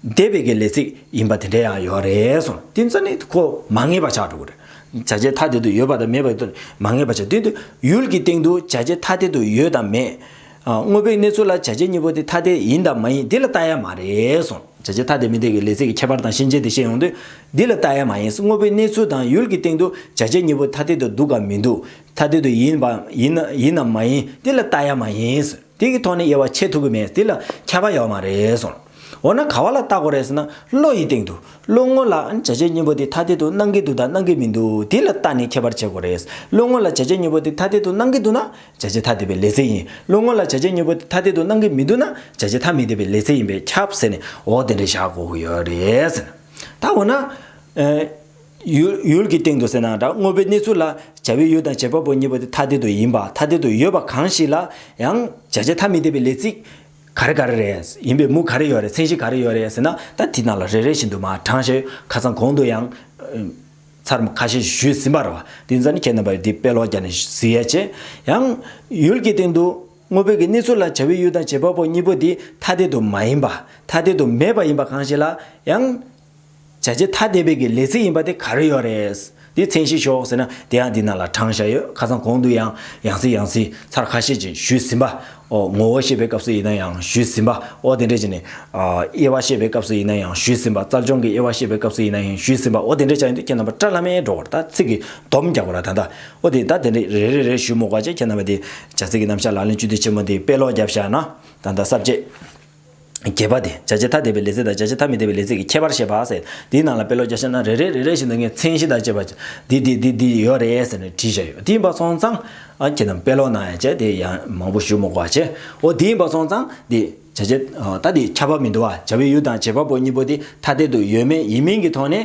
འདས་པའི་གི་ལས་ཚིག་ཡིན་པ་དེ་འདྲ་ཡང་ཡོད་རེད་སོང་དེ་ཚོ་ནི་ཁོ་མ་ངེས་པ་ཆགས་འགྲོ་གི་རེད། བྱ་བྱེད་ཐ་དད་དུ་ཡོད་པ་དང་མེད་པ་ཡོད་དོ་མ་ངེས་པ་ཆགས་དོན་དུ་ཡུལ་གྱི་སྟེང་དུ་བྱ་བྱེད་ཐ་དད་དུ་ཡོད་དང་མེད། དངོས་པོའི་གནས་ཚུལ་ལ་བྱ་བྱེད་གཉིས་པོ་དེ་ཐ་དད་ཡིན་དང་མ་ཡིན་འདི་ལ་བལྟ་ཡ་མ་རེད་སོང་བྱ་བྱེད་ཐ་དད་མི་དད་གི་ལས་ཚིག་གི་ཁྱད་པར་དང་ཤན་འབྱེད་དེ་ཤེས་ཡོང་དུས་འདི་ལ་བལྟ་ཡ་མ་ཡིན་དངོས་པོའི་གནས་ཚུལ་དང་ཡུལ་གྱི་སྟེང་དུ་བྱ་བྱེད་གཉིས་པོ་ཐ་དད་དུ་འདུག་གམ་མི་འདུག་ཐ་དད་དུ་ཡིན་པ་ཡིན་ནམ་མ་ཡིན་འདི་ལ་བལྟ་ཡ་མ་ཡིན། དེ་གི་ཐོག་ནས་དབྱེ་བ་ཕྱེ་ཐུབ་ཀྱི་མེད་དེ་ལ་ཁྱབ་པ་ཡོད་མ་རེད་གསུངས། འོ་ན་ག་བ་ལ་བལྟ་དགོས་རེད་ཟེར་ན་བློ་ཡི་སྟེང་དུ་བློ་ངོ་ལ་བྱ་བྱེད་གཉིས་པོ་དེ་ཐ་དད་དུ་སྣང་གི་འདུག་དང་སྣང་གི་མི་འདུག་དེ་ལ་བལྟ་ནས་ཁྱབ་པར་བྱེད་དགོས་རེད། བློ་ངོ་ལ་བྱ་བྱེད་གཉིས་པོ་དེ་ཐ་དད་དུ་སྣང་གི་འདུག་ན་བྱ་བྱེད་ཐ་དད་པའི་ལས་ཚེགས་ཡིན། བློ་ངོ་ལ་བྱ་བྱེད་གཉིས་པོ་དེ་ཐ་དད་དུ་སྣང་གི་མི་འདུག་ན་བྱ་བྱེད་ཐ་མི་དད་པའི་ལས་ཚེགས་ཡིན་པས་ཁྱབ་ཟེར་ནས་འོ་དེ་འདྲ་བཞག་དགོས་ཀྱི་ཡོད་རེད་ཟེར། ད་འོ་ན། ཡུལ་གྱི་སྟེང་དུ་ཟེར་ནའང་འདྲ་དངོས་པོའི་གནས་ཚུལ་ལ་བྱ་བའི་ཡུལ་དང་བྱེད་པ་པོ་གཉིས་པོ་དེ་ཐ་དད་དུ་ཡིན་པ་ཐ་དད་དུ་ཡོད་པ་གང་ཞིག་ལ་ཡང་བྱ་བྱེད་ཐ་མི་དད་པའི་ལས་ཚིག་ག་རེ་ག་རེ་རེད་ཡིན་པའི་མུ་ག་རེ་ཡོད་རེད་མཚན་གཞི་ག་རེ་ཡོད་རེད་ཟེར་ན་ད་དེ་རྣམས་ལ་རེ་རེ་བཞིན་དུ་མ་དྲངས་ཞེས་ཁ་སང་གོང་དུ་ཡང་ཚར་མ་ཁ་ཤས་ཞུས་ཟིན་པར་བ་དེ་ཚར་ནི་ཁྱེད་རྣམ་པར་འདི་དཔེ་ཀློག་བརྒྱ་ནས་བཞི་ཡས་ཆེ། ཡང། ཡུལ་གྱི་སྟེང་དུ་དངོས་པོའི་གནས་ཚུལ་ལ་བྱ་བའི་ཡུལ་དང་བྱེད་པ་པོ་གཉིས་པོ་དེ་ཐ་དད་དུ་མ་ཡིན་པ་ཐ་དད་དུ་མེད་པ་ཡིན་པ་གང་ཞིག་ལ་ཡང། བྱ་བྱེད་ཐ་དད་པའི་གི་ལས་ཚིག་ཡིན་པ་དེ་ག་རེ་ཡོད་རེད། དེ་མཚན་ཤེས་ཤོག་ཟེར་ན་དེ་ཡང་འདི་ན་ལ་དྲངས་བཞག་ཡོད་ཁ་སང་གོང་དུ་ཡང་ཡང་ཚིག་ཡང་ཚིག་ཚར་ཁ་ཤས་ཀྱིས་ཞུས་ཟིན་པ་ཨོ་ངོ་བོ་བཤད་པའི་སྐབས་སུ་ཡིན་ན་ཡང་ཞུས་ཟིན་པ་ཨོ་དེ་འདྲས་ཀྱི་ནས་དབྱེ་བ་བཤད་པའི་སྐབས་སུ་ཡིན་ན་ཡང་ཞུས་ཟིན་པ་རྩལ་སྦྱོང་གི་དབྱེ་བ་བཤད་པའི་སྐབས་སུ་ཡིན་ན་ཡང་ཞུས་ཟིན་པ་ཨོ་དེ་འདྲས་བྱ་ཡིན་དུས་ཁྱེད་རྣམ་པ་བཀྲ་ལྷ་མའི་འགྲོ་བར་ད་ཚིག་གི་སྡོམ་རྒྱག་པ་ར་ད་ད་ཨོ་དེ་ད་དེ་འདྲས་རེ་རེ་རེ་ཞུས་མོ་བཀའ་ཅན་ཁྱེད་རྣམ་པ་དེ་བྱ་ཚིག་གི་རྣམ་བཞག་ལག་ལེན་གཅུ་དུས་ཆེན་མོ་འདི་དཔེ་ཀློག་བརྒྱབ་བཞག་ན་ད་ད་གསར་བརྗེ། བརྒྱད་པ་དེ་བྱ་བྱེད་ཐ་དད་པའི་ལས་ཚིག་དང་བྱ་བྱེད་ཐ་མི་དད་པའི་ལས་ཚིག་གི་ཁྱད་པར་བཤད་པ། དེའི་ནང་ལ་དཔེ་ཀློག་རྒྱག་བྱེད་ན་རེ་རེ་རེ་རེ་བཞིན་དུ་ངས་མཚན་གཞི་དང་བཅས་པ་འདི་འདི་འདི་འདི་ཡོད་རེད་ཟེར་ནས་བྲིས་བཞག་ཡོད་དེ་ཡིན་པ་སོང་ཙང། ཁྱེད་རྣམས་དཔེ་ཀློག་གནང་ཡ་བྱས་དེ་ཡང་མང་པོ་ཞུ་མོ་གོ་བ་བྱས་འོ་དེ་ཡིན་པ་སོང་ཙང་འདི་བྱ་བྱེད་ཐ་དད་ཁྱབ་པ་མི་འདུག་བ་བྱ་བའི་ཡུལ་དང་བྱེད་པ་པོ་གཉིས་པོ་དེ་ཐ་དད་དུ་ཡོད་མེད་ཡིན་མིན་གྱི་ཐོག་ནས།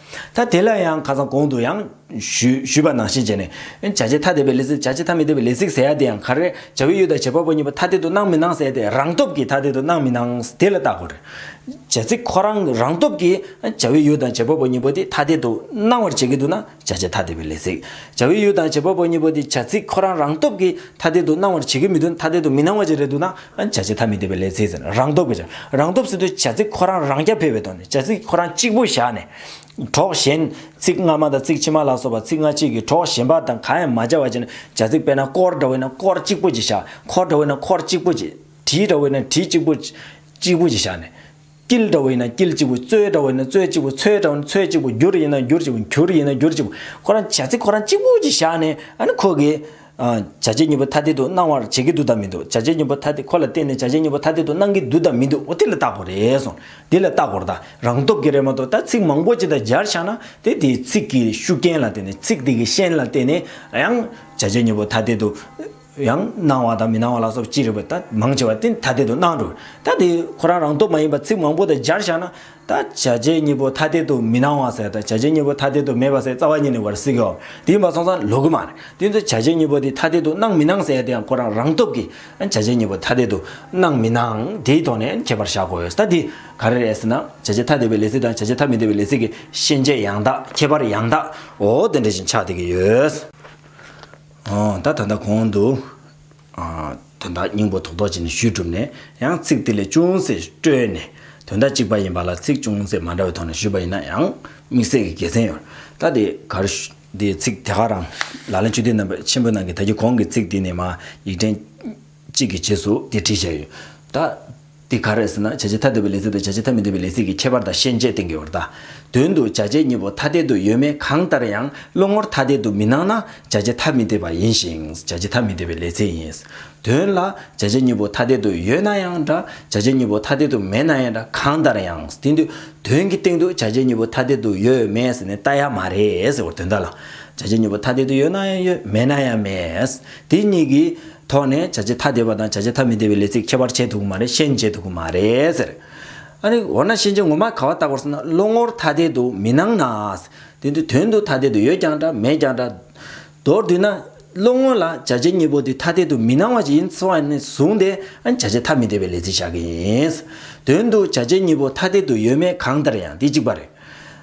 ད་དེ་ལ་ཡང་ཁ་སང་གོང་དུ་ཡང། ཞུས་པ་ནང་བཞིན་བྱས་ནས། བྱ་བྱེད་ཐ་དད་པའི་ལས་ཚིག་བྱ་བྱེད་ཐ་མི་དད་པའི་ལས་ཚིག་ཟེར་ཡ་དེ་ཡང་ག་རེ། བྱ་བའི་ཡུལ་དང་བྱེད་པ་པོ་གཉིས་པོ་ཐ་དད་དུ་སྣང་མི་སྣང་ཟེར་ཏེ་རང་སྟོབས་ཀྱིས་ཐ་དད་དུ་སྣང་མི་སྣང་དེ་ལ་བརྟག་དགོས། བྱ་ཚིག་ཁོ་རང་རང་སྟོབས་ཀྱིས་བྱ་བའི་ཡུལ་དང་བྱེད་པ་པོ་གཉིས་པོ་དེ་ཐ་དད་དུ་སྣང་བར་བྱེད་ཀྱི་འདུག་ན་བྱ་བྱེད་ཐ་དད་པའི་ལས་ཚིག་བྱ་བའི་ཡུལ་དང་བྱེད་པ་པོ་གཉིས་པོ་དེ་བྱ་ཚིག་ཁོ་རང་རང་སྟོབས་ཀྱིས་ཐ་དད་དུ་སྣང་བར་བྱེད་ཀྱི་མི་འདུག་ཐ་དད་དུ་མི་སྣང་བར་བྱེད་རེ་འདུག་ན། བྱ་བྱེད་ཐ་མི་དད་པའི་ལས་ཚིག་ཟེར། རང་སྟོབས་ཀྱི་བྱ། རང་སྟོབས་སུ་དུ་བྱ་ཚིག་ཁོ་རང་རང་རྐྱ་འཕེར་བའི་ཐོག་ནས་བྱ་ཚིག་ཁོ་རང་གཅིག་པུ་བཞག་ནས། གྲོགས་གཞན། ཚིག་སྔ་མ་དང་ཚིག་ཕྱི་མ་ལ་སོགས་པ་ཚིག་སྔ་ཕྱི་གི་གྲོགས་གཞན་པ་དང་གང་ཡང་མ་སྦྱར་བར་བྱས་ནས་བྱ་ཚིག་དཔེར་ན་སྐོར་འདྲ་བོ་ཡིན་ན་སྐོར་གཅིག་པུ་ཅིག་བཞག་ཁོར་འདྲ་བོ་ཡིན་ན་ཁོར་གཅིག་པུ་ཅིག། བྲིས་འདྲ་བོ་ཡིན་ན་བྲིས་གཅིག་པུ། གཅིག་པུ་ཅིག་བཞག་ནས། སྐྱིལ་དྲ་བོ་ཡིན་ན་སྐྱིལ་གཅིག་པུ། རྩོལ་དྲ་བོ་ཡིན་ན་རྩོལ་གཅིག་པུ་ཚོལ་དྲ་བོ་ཡིན་ན་ཚོལ་གཅིག་པུ་འགྱུར་ཡིན་ན་འགྱུར་གཅིག་པུ་འགྱུར་ཡིན་ན་འགྱུར་གཅིག་པུ། ཁོ་རང་བྱ་ཚིག་ཁོ་རང་གཅིག་པུ་ཞིག་བཞག་ནས་ཨ་ནི་ཁོ་གིས། བྱ་བྱེད་གཉིས་པོ་ཐ་དད་དུ་སྣང་བར་བྱེད་ཀྱི་འདུག་དམ་མི་འདུག་བྱ་བྱེད་གཉིས་པོ་ཐ་དད་ཁོ་ལ་བརྟེན་ནས་བྱ་བྱེད་གཉིས་པོ་ཐ་དད་དུ་སྣང་གི་འདུག་དམ་མི་འདུག་འདི་ལ་བརྟག་དགོས་རེད་སོང། འདི་ལ་བརྟག་དགོས་རེད་ད། རང་སྟོབས་ཀྱིས་རེད་མ་གཏོགས་ད་ཚིག་མང་པོ་ཅིག་ད་སྦྱར་བཞག་ན་དེ་དེའི་ཚིག་གི་ཤུགས་རྐྱེན་ལ་བརྟེན་ནས་ཚིག་དེ་གི་ཤན་ལ་བརྟེན་ནས་ཡང། བྱ་བྱེད་གཉིས་པོ་ཐ་དད་དུ། ཡང་སྣང་བ་དང་མི་སྣང་བ་ལ་སོགས་ཅི་རིགས་པ་ད་མང་ཆེ་བ་སྟེ་ཐ་དད་དུ་སྣང་འགྲོ། ད་དེ་ཁོ་རང་རང་སྟོབས་མ་ཡིན་པར་ཚིག་མང་པོ་དང་སྦྱར་བཞག་ན། ད་བྱ་བྱེད་གཉིས་པོ་ཐ་དད་དུ་མི་སྣང་བ་ཟེར་དང་བྱ་བྱེད་གཉིས་པོ་ཐ་དད་དུ་མེད་པ་ཟེར་རྩ་བ་ཉིད་ནས་བར་སྲིད་ཀྱི། དེ་ཡིན་པ་སོང་ཙང་ལོག་གི་མ་རེད། དེ་ཚོ་བྱ་བྱེད་གཉིས་པོ་དེ་ཐ་དད་དུ་སྣང་མི་སྣང་ཟེར་དེ་ཡང་ཁོ་རང་རང་སྟོབས་ཀྱིས་བྱ་བྱེད་གཉིས་པོ་ཐ་དད་དུ་སྣང་མི་སྣང་དེའི་ཐོག་ནས་མཁྱེན་པར་བྱ་དགོས། ད་དེ་ག་རེ་རེད་ཟེར་ན། བྱ་བྱེད་ཐ་དད་པའི་ལས་ཚིག་དང་བྱ་བྱེད་ཐ་མི་དད་པའི་ལས་ཚིག་གི་ཤེས་བྱེད་ཡང་དག་ཁྱད་པར་ཡང་དག་འོ་དེ་འདྲ་ཞིག་ཆགས་བསྡད་ཀྱི་ཡོད། ད་ད་ལྟ་གོང་དུ། དོན་དག་སྙིང་པོ་ཐོག་རྡོ་རྗེ་ནས་ཞུས་གྲུབ་ནས་ཡང་ཚིག་དེ་ལས་ཅུང་ཟད་བཀྲོལ་ནས། དོན་དག་གཅིག་པ་ཡིན་པ་ལ་ཚིག་ཅུང་ཟད་མ་འདྲ་བའི་ཐོག་ནས་ཞུས་པ་ཡིན་ན་ཡང་དམིགས་བསལ་གྱི་དགེ་མཚན་ཡོད། ད་དེ་གར། དེའི་ཚིག་དེ་ག་རང། ལག་ལེན་ཆོས་སྡེ་རྣམ་པ་ཆེན་པོའི་ནང་གི་ད་ཀྱི་གོང་གི་ཚིག་དེ་ནི་མ་ཡིག་ཕྲན། གཅིག་གི་རྗེས་སུ་དེ་བྲིས་བྱས་ཡོད། ད། འདི་ག་རེ་ཟེར་ན་བྱ་བྱེད་ཐ་དད་པའི་ལས་ཚིག་དང་བྱ་བྱེད་ཐ་མི་དད་པའི་ལས་ཚིག་གི་ཁྱད་པར་དང་ཤན་འབྱེད་གཏན་འཁེལ་བར་གདའ། དོན་དུ་བྱ་བྱེད་གཉིས་པོ་ཐ་དད་དུ་ཡོད་མེད་གང་ལྟར་ཡང་བློ་ངོར་ཐ་དད་དུ་མི་སྣང་ན་བྱ་བྱེད་ཐ་མི་དད་པ་ཡིན་ཞིང་བྱ་བྱེད་ཐ་མི་དད་པའི་ལས་ཚིག་ཡིན། དོན་ལ། བྱ་བྱེད་གཉིས་པོ་ཐ་དད་དུ་ཡོད་ན་ཡང་འདྲ་བྱ་བྱེད་གཉིས་པོ་ཐ་དད་དུ་མེད་ན་ཡང་འདྲ་གང་ལྟར་ཡང། དེ་འདུས། དོན་གྱི་སྟེང་དུ་བྱ་བྱེད་གཉིས་པོ་ཐ་དད་དུ་ཡོད་མེད་ཟེར་ནས་བལྟ་ཡ་མ་རེད་ཟེར་བར་དོན་དག་ལ། བྱ་བྱེད་གཉིས་པོ་ཐ་དད་དུ་ཡོད་ན་ཡང་ཡོད་མེད་ན་ཡང་མེད། དེ་གཉིས་ཀྱི། ཐོག་ནས་བྱ་བྱེད་ཐ་དད་པ་དང་བྱ་བྱེད་ཐ་མི་དད་པའི་ལས་ཚིག་ཁྱད་པར་འབྱེད་ཐུབ་ཀྱི་མ་རེད་ཤེས་འབྱེད་ཐུབ་ཀྱི་མ་རེད་ཟེར། ཨ་རེ། འོ་ན་ཤེས་འབྱེད་ངོ་མ་ག་བ་ལྟ་གོ་ཟེར་ན་བློ་ངོར་ཐ་དད་དུ་མི་སྣང་ན། དེ་དུས་དོན་དུ་ཐ་དད་དུ་ཡོད་ཀྱང་འདྲ་མེད་ཀྱང་འདྲ། མདོར་བསྡུས་ན། བློ་ངོ་ལ་བྱ་བྱེད་གཉིས་པོ་དེ་ཐ་དད་དུ་མི་སྣང་བ་ཞིག་ཡིན་ཚོད་ནས་བཟུང་སྟེ་བྱ་བྱེད་ཐ་མི་དད་པའི་ལས་ཚིག་བཞག་གི་ཡིན། དོན་དུ་བྱ་བྱེད་གཉིས་པོ་ཐ་དད་དུ་ཡོད་མེད་གང་ལྟར་ཡང་དེ་གཅིག་པ་རེད།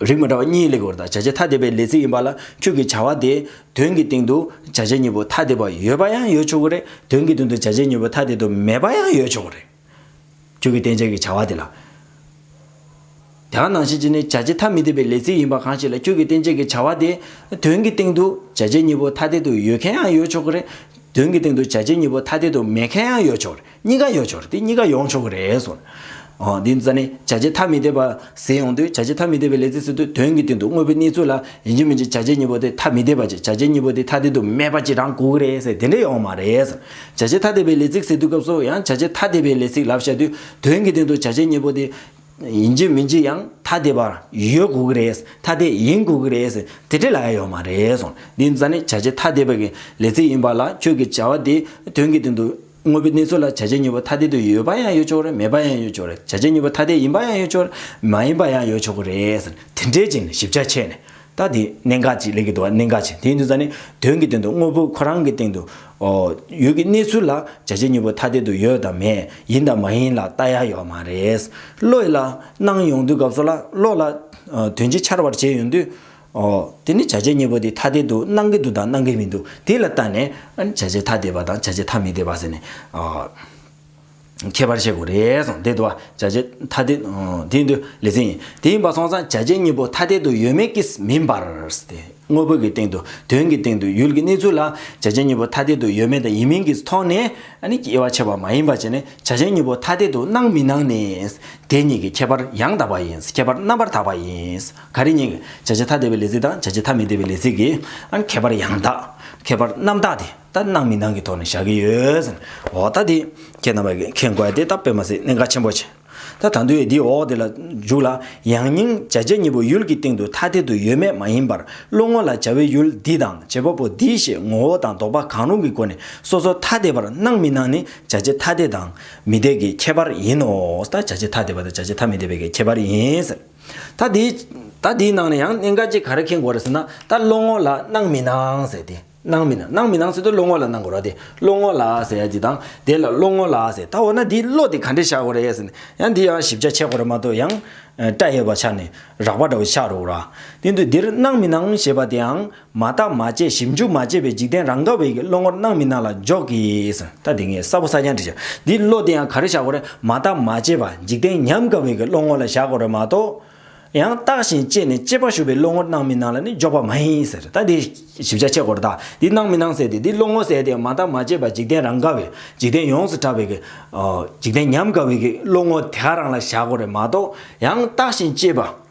རིགས་མི་འདྲ་བ་གཉིས་ལེགས་པར་དང་བྱ་བྱེད་ཐ་དད་པའི་ལས་ཚིག་ཡིན་པ་ལ་ཁྱོད་ཀྱི་བྱ་བ་དེའི་དོན་གྱི་སྟེང་དུ་བྱ་བྱེད་གཉིས་པོ་ཐ་དད་པ་ཡོད་པ་ཡང་ཡོད་ཆོག་གི་རེད་དོན་གྱི་དོན་དུ་བྱ་བྱེད་གཉིས་པོ་ཐ་དད་དུ་མེད་པ་ཡང་ཡོད་ཆོག་གི་རེད། ཁྱོད་ཀྱིས་བསྟན་བྱ་གི་བྱ་བ་དེ་ལ། དེ་གང་ནང་བཞིན་གྱི་ནི་བྱ་བྱེད་ཐ་མི་དད་པའི་ལས་ཚིག་ཡིན་པ་གང་ཞིག་ལ་ཁྱོད་ཀྱིས་བསྟན་བྱ་གི་བྱ་བ་དེའི་དོན་གྱི་སྟེང་དུ་བྱ་བྱེད་གཉིས་པོ་ཐ་དད་དུ་ཡོད་མཁན་ཡང་ཡོད་ཆོག་གི་རེད། དོན་གྱི་སྟེང་དུ་བྱ་བྱེད་གཉིས་པོ་ཐ་དད་དུ་མེད་མཁན་ཡང་ཡོད་ཆོག་གི་རེད། གཉིས་ཀ་ཡོད་ཆོག་དེ་གཉིས་ཀ་ཡོང་ཆོག་གི་རེད་གསུངས། འདི་ཙཱ་ནི་བྱ་བྱེད་ཐ་མི་དད་པ་ཟེར་ཡོང་དུས་བྱ་བྱེད་ཐ་མི་དད་པའི་ལས་ཚིག་ཟེར་དུས་དོན་གྱི་སྟེང་དུ་དངོས་པོའི་གནས་ཚུལ་ལ་ཡིན་གཅིག་མིན་གཅིག་བྱ་བྱེད་གཉིས་པོ་དེ་ཐ་མི་དད་པ་ཅིག་བྱ་བྱེད་གཉིས་པོ་དེ་ཐ་དད་དུ་མེད་པ་ཅིག་རང་དགོས་ཀྱི་རེད་ཟེར་དེ་འདྲ་ཡོང་མ་རེད་གསུངས། བྱ་བྱེད་ཐ་དད་པའི་ལས་ཚིག་ཟེར་དུས་སྐབས་སུ་ཡང་བྱ་བྱེད་ཐ་དད་པའི་ལས་ཚིག་ལབ་བཞག་དུས་དོན་གྱི་སྟེང་དུ་བྱ་བྱེད་གཉིས་པོ་དེ། ཡིན་གཅིག་མིན་གཅིག་ཡང་ཐ་དད་པ་ཡོད་དགོས་ཀྱི་རེད་ཐ་དད་ཡིན་དགོས་ཀྱི་རེད་ཟེར་དེ་འདྲ་ལ་ཡ་ཡོང་མ་རེད་གསུངས། འདི་ཙཱ་ནི་བྱ་བྱེད་ཐ་དད་པ་གི་ལས་ཚིག་ཡིན་པ་ལ་ཁྱོད་ཀྱི་བྱ་བ་དེ་དོན་གྱི་སྟེང་དུ། དངོས་པོའི་གནས་ཚུལ་ལ་བྱ་བྱེད་མྱུལ་བ་ཐ་དད་དུ་ཡོད་པ་ཡང་ཡོད་ཆོག་གི་རེད་མེད་པ་ཡང་ཡོད་ཆོག་གི་རེད་བྱ་བྱེད་མྱུལ་བ་ཐ་དད་ཡིན་པ་ཡང་ཡོད་ཆོག་མ་ཡིན་པ་ཡང་ཡོད་ཆོག་གི་རེད་ཟེར་དེ་འདྲའི་རྗེས་ནས་ཞིབ་ཆ་ཕྱེས་ནས་ད་དེ་གནད་འགག་ཅིག་གླེང་གི་འདུག་གནད་འགག་ཅིག་དེ་ཡིན་དུས་ད་ནི་དོན་གྱི་དོན་དུ་དངོས་པོ་ཁོ་རང་གི་སྟེང་དུ་ཡོད་ཀྱི་གནས་ཚུལ་ལ་བྱ་བྱེད་མྱུལ་བ་ཐ་དད་དུ་ཡོད་དམ་མེད་ཡིན་དམ་མ་ཡིན་ལ་བལྟ་ཡ་ཡོད་མ་རེད་བློ་ཡིད་ལ་སྣང་ཡོང་དུས་སྐབས་སུ་ལ་བློ་ལ་དོན་གྱིས་འཆར་བར་བྱས་ཡོང་དུས་ཨོ། དེ་ནི་བྱ་བྱེད་གཉིས་པོ་དེ་ཐ་དད་དུ་སྣང་གི་འདུག་དང་སྣང་གི་མི་འདུག་དེ་ལ་བརྟགས་ནས། བྱ་བྱེད་ཐ་དད་པ་དང་བྱ་བྱེད་ཐ་མི་དད་པ་ཟེར་ནས། ཁྱད་པར་བཤད་དགོས་རེད་སོང་དེ་དུ་བ་བྱ་བྱེད་ཐ་དད། དེའི་འདུ་ལེ་ཚན་ཡིན་དེ་ཡིན་པ་སོང་ཙང་བྱ་བྱེད་གཉིས་པོ་ཐ་དད་དུ་ཡོད་མེད་ཀྱིས་མིན་པར། དངོས་པོ་གི་སྟེང་དུ་དོན་གྱི་སྟེང་དུ་ཡུལ་གྱི་གནས་ཚུལ་ལ་བྱ་བྱེད་གཉིས་པོ་ཐ་དད་དུ་ཡོད་མེད་དང་ཡིན་མིན་གྱི་ཐོག་ནས། དབྱེ་བ་ཕྱེ་བ་མ་ཡིན་པ་བྱས་ནས་བྱ་བྱེད་གཉིས་པོ་ཐ་དད་དུ་སྣང་མི་སྣང་ནི། དེ་གཉིས་ཀྱི་ཁྱད་པར་ཡང་དག་པ་ཡིན་ཁྱད་པར་རྣམ་པར་དག་པ་ཡིན། ག་རེ་རྙེད། བྱ་བྱེད་ཐ་དད་པའི་ལས་ཚིག་དང་བྱ་བྱེད་ཐ་མི་དད་པའི་ལས་ཚིག་གི་ཁྱད་པར་ཡང་དག་ཁྱད་པར་རྣམ་དག་དེ་ལྟར་སྣང་མི་སྣང་གི་ཐོག་ནས་བཞག་གི་ཡོད། འོ་ད་དེ་ཁྱེད་རྣམ་པ་གིས་མཁྱེན་དགོས་དེ་ལྟ་དཔེ་མ་ཟད་གནད་འགག་ཆེན་པོ་ཆེ། ད་ད་དུང་དེའི་འོག་དེ་ལ་འཇུག་ལ། ཡང་སྙིང་བྱ་བྱེད་གཉིས་པོ་ཡུལ་གྱི་སྟེང་དུ་ཐ་དད་དུ་ཡོད་མེད་མ་ཡིན་པར་བློ་ངོ་ལ་བྱ་བའི་ཡུལ་འདི་དང་བྱེད་པ་པོ་འདི་ཞེས་ངོ་བོ་དང་ལྡོག་པ་གང་རུང་གི་སྒོ་ནས་སོ་སོ་ཐ་དད་པར་སྣང་མི་སྣང་ནི་བྱ་བྱེད་ཐ་དད་དང་མི་དད་ཀྱི་ཁྱད་པར་ཡིན་ནོ། ད་བྱ་བྱེད་ཐ་དད་པ་དང་བྱ་བྱེད་ཐ་མི་དད་པའི་ཁྱད་པར་ཡིན། ད་དེའི་ད་དེའི་ནང་ནས་ཡང་གནད་འགག་ཅིག་ག་རེ་ཁེལ་དགོས་རེད་ཟེར་ན་ད་བློ་ངོ་ལ་སྣང་མི་སྣང་ཟེར་ཏེ་སྣང་མི་སྣང་སྣང་མི་སྣང་ཟེར་དུས་བློ་ངོ་ལ་སྣང་དགོས་ར་དེ་བློ་ངོ་ལ་ཟེར་དེ་དང་དེ་ལ་བློ་ངོ་ལ་ཟེར་ད་འོ་ན་དེའི་བློ་དེ་ག་འདྲེ་བཞག་དགོས་རེད་ཟེར་ནས་ཡང་དེ་ཡང་ཞིབ་ཆ་ཆད་དགོས་རེད་མ་གཏོགས་ཡང་སྐྲ་ཡོད་པ་ཆགས་ནས་རགས་པ་འདྲ་བོ་ཆགས་རོགས་ར་དེ་དུས་འདིར་སྣང་མི་སྣང་ཞེས་པ་དེའང་མ་བརྟག་མ་དཔྱད་ཞིབ་འཇུག་མ་བྱས་པའི་འཇིག་རྟེན་རང་དགའ་བའི་གི་བློ་ངོར་སྣང་མི་སྣང་ལ་འཇོག་གིས། ད་དེ་ངས་གསར་བུ་ས་ཀྱང་འབྲི་བྱ། འདི་བློ་བདེ་ཡང་ག་རེ་བྱ་དགོས་རེད་མ་བརྟག་མ་དཔྱད་པ་འཇིག་རྟེན་ཉམས་དགའ་བའི་གི་བློ་ངོར་ལ་བཞག་དགོས་རེད་མ་གཏོགས། ཡང་བརྟགས་ཤིང་དཔྱད་ནས་དཔྱད་པ་ཞུགས་པའི་བློ་ངོར་སྣང་མི་སྣང་ལ་ནི་འཇོག་པ་མ་ཡིན་ཟེར་ད་འདི་ཞིབ་ཆ་ཕྱེ་དགོས་རེད་ད་འདི་སྣང་མི་སྣང་ཟེར་ཏེ་འདི་བློ་ངོར་གསལ་ཏེ་མ་བརྟག་མ་དཔྱད་པ་འཇིག་རྟེན་རང་དགའ་བའི་འཇིག་རྟེན་ཡོངས་སུ་གྲགས་པའི་གི། འཇིག་རྟེན་ཉམས་དགའ་བའི་གི་བློ་ངོར་དེ་ག་རང་ལ་བཞག་དགོས་རེད་མ་གཏོགས། ཡང་བརྟགས་ཤིང་དཔྱད་པ།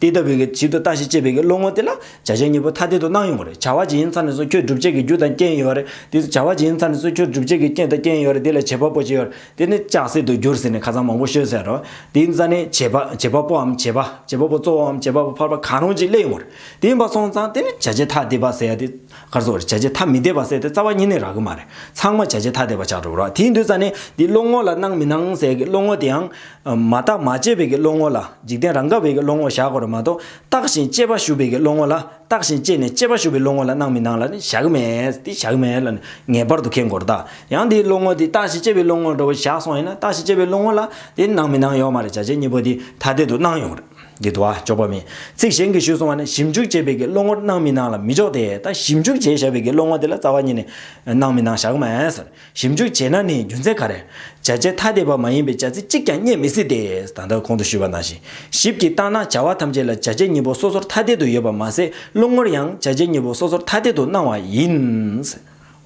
དེ་ལྟ་བུའི་གྱི་བྱེད་དུ་ལྟ་ཞིག་ཅེས་པའི་གི་བློ་ངོར་དེ་ལ་བྱ་བྱེད་གཉིས་པོ་ཐ་དད་དུ་སྣང་ཡོང་བ་རེད་བྱ་བ་ཇི་ཡིན་ཚར་ནས་བཟུང་ཁྱོད་སྒྲུབ་བྱེད་ཀྱི་རྒྱུ་དང་རྐྱེན་ཡོད་རེད་དེ་བྱ་བ་ཇི་ཡིན་ཚར་ནས་བཟུང་ཁྱོད་སྒྲུབ་བྱེད་ཀྱི་རྐྱེན་དང་རྐྱེན་ཡོད་རེད་དེ་ལ་བྱེད་པ་པོ་ཅི་ཡོད་དེ་ནི་ལྕགས་གསེར་དུ་འགྱུར་ཟེར་ནས་ཁ་ཚང་མང་པོ་ཤོད་ཟེར་རོ། དེའི་རྩ་ནི་བྱེད་པ་བྱེད་པ་པོའམ་བྱེད་པ་བྱེད་པ་པོ་གཙོ་བོའམ་བྱེད་པ་པོ་འཕར་པ་གང་རུང་ཅིག་གླེང་ཡོང་བ་རེད་དེ་ཡིན་པ་སོང་ཙང་དེ་ནི་བྱ་བྱེད་ཐ་དད་པ་ཟེར་ཡ་དེ་གར་སོང་བ་རེད་བྱ་བྱེད་ཐ་མི་དད་པ་ཟེར་ཏེ་རྩ་བ་གཉིས་ནི་རག་གི་མ་རེད་ཚང་མ་བྱ་བྱེད་ཐ་དད་པ་ཆགས་འགྲོ་བ་རེད་དེའི་མདོའི་རྩ་ནི་དེའི་བློ་ངོར་ལ་སྣང་མི་སྣང་ཟེར་གི་བློ་ངོར་དེའང་མ་བརྟགས་མ་དཔྱད་བས་ཀྱི་བློ་ངོ་ལ་འཇིག་རྟེན་རང་དགའ་བས་ཀྱི་བློ་ངོར་བཞག་གོ་ར་མ་གཏོགས་བརྟགས་ཤིང་དཔྱད་པ་ཞུ་བས་ཀྱི་བློ་ངོ་ལ་བརྟགས་ཤིང་དཔྱད་ནས་དཔྱད་པ་ཞུ་བའི་བློ་ངོ་ལ་སྣང་མི་སྣང་ལ་ནི་བཞག་གི་མེད་དེ་བཞག་གི་མེད་ལ་ནི་ངེས་པར་དུ་ཁེངས་དགོས་ར་ད་ཡང་དེའི་བློ་ངོ་དེ་བརྟགས་ཤིང་དཔྱད་པའི་བློ་ངོར་འགྲོ་བའི་བཞག་སོང་ཡིན་ན་བརྟགས་ཤིང་དཔྱད་པའི་བློ་ངོ་ལ་དེ་སྣང་མི་སྣང་ཡོད་མ་རེད་བྱ་བྱེད་གཉིས་པོ་དེ་ཐ་དད་དུ་སྣང་ཡོང་རེད་འདི་དུ་བ་འཇོག་པ་མིན་ཚིག་གཞན་གྱིས་ཞུས་སོང་བ་ནི་ཞིབ་འཇུག་བྱེད་པས་ཀྱི་བློ་ངོར་སྣང་མི་སྣང་ལ་མི་འཇོག་དེ་ད་ཞིབ་འཇུག་བྱས་བཞག་པས་ཀྱི་བློ་ངོ་དེ་ལ་རྩ་བ་ཉིད་ནས་སྣང་མི་སྣང་བཞག་གི་མེད། ཞིབ་འཇུག་བྱས་ན་ནི་རྒྱུ་མཚན་ག་རེ། བྱ་བྱེད་ཐ་དད་པ་མ་ཡིན་པའི་བྱ་ཚིག་གཅིག་ཀྱང་རྙེད་མི་སྲིད་དེ། ད་ལྟར་གོང་དུ་ཞུས་པ་ནང་བཞིན་ཞིབ་ཀྱིས་བརྟགས་ན་བྱ་བ་ཐམས་ཅད་ལ་བྱ་བྱེད་གཉིས་པོ་སོ་སོར་ཐ་དད་དུ་ཡོད་པར་མ་ཟད་རླུང་ངོར་ཡང་བྱ་བྱེད་གཉིས་པོ་སོ་སོར་ཐ་དད་དུ་སྣང་བ་ཡིན།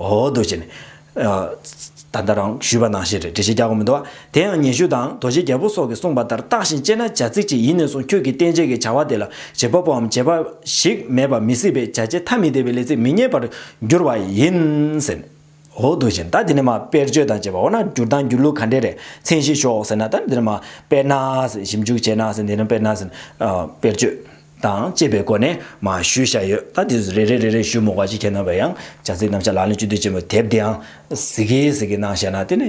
འོ་འདུག་བྱས་ནས། ད་ལྟར་རང་ཞུས་པ་ནང་བཞིན་རེད་འགྲེལ་བཤད་རྒྱག་དགོས་མི་འདུག་བ། དེ་ཡང་ཉན་ཤུལ་དང་དོ་བཞི་རྒྱལ་པོ་སོགས་ཀྱིས་གསུངས་པ་ལྟར་བརྟགས་ཤིང་དཔྱད་ན་བྱ་ཚིག་ཅིག་ཡིན་ནས་བཟུང་ཁྱོད་ཀྱིས་བསྟན་བྱེད་ཀྱི་བྱ་བ་དེ་ལ་བྱེད་པ་པོའམ་བྱེད་པ་ཞིག་མེད་པ་མི་སྲིད་པས་བྱ་བྱེད་ཐ་མི་དད་པའི་ལས་ཚིག་མི་རྙེད་པར་འགྱུར་བ་ཡིན། འོག་ཏུ་བཞིན་ད་དེ་ནི་མ་དཔེར་བརྗོད་དང་བཅས་པ་འོ་ན་སྒྱུར་དང་སྒྱུར་ལུགས་ག་འདྲའི་རེད་མཚན་གཞི་ཤོག་ཟེར་ན་ད་ནི་དེ་ནི་མ་དཔེར་ན་ཞིབ་འཇུག་བྱས་ན་ཟེར་འདི་ནི་དཔེར་ན་ཟེར་དཔེར་བརྗོད་དང་བཅས་པའི་སྒོ་ནས་མ་ཞུས་བཞག་ཡོད་ད་དེ་རེ་རེ་རེ་རེ་ཞུས་མོ་བ་ཅི་ཁྱེད་རྣམས་པས་ཡང་བྱ་ཚིག་རྣམས་ཆ་ལག་ལེན་བཅུ་དུས་ཆེན་པོ་དེབ་འདི་ཡང་ཟིག་གེ་ཟིག་གེ་གནང་བཞག་ན་དེ་ནི་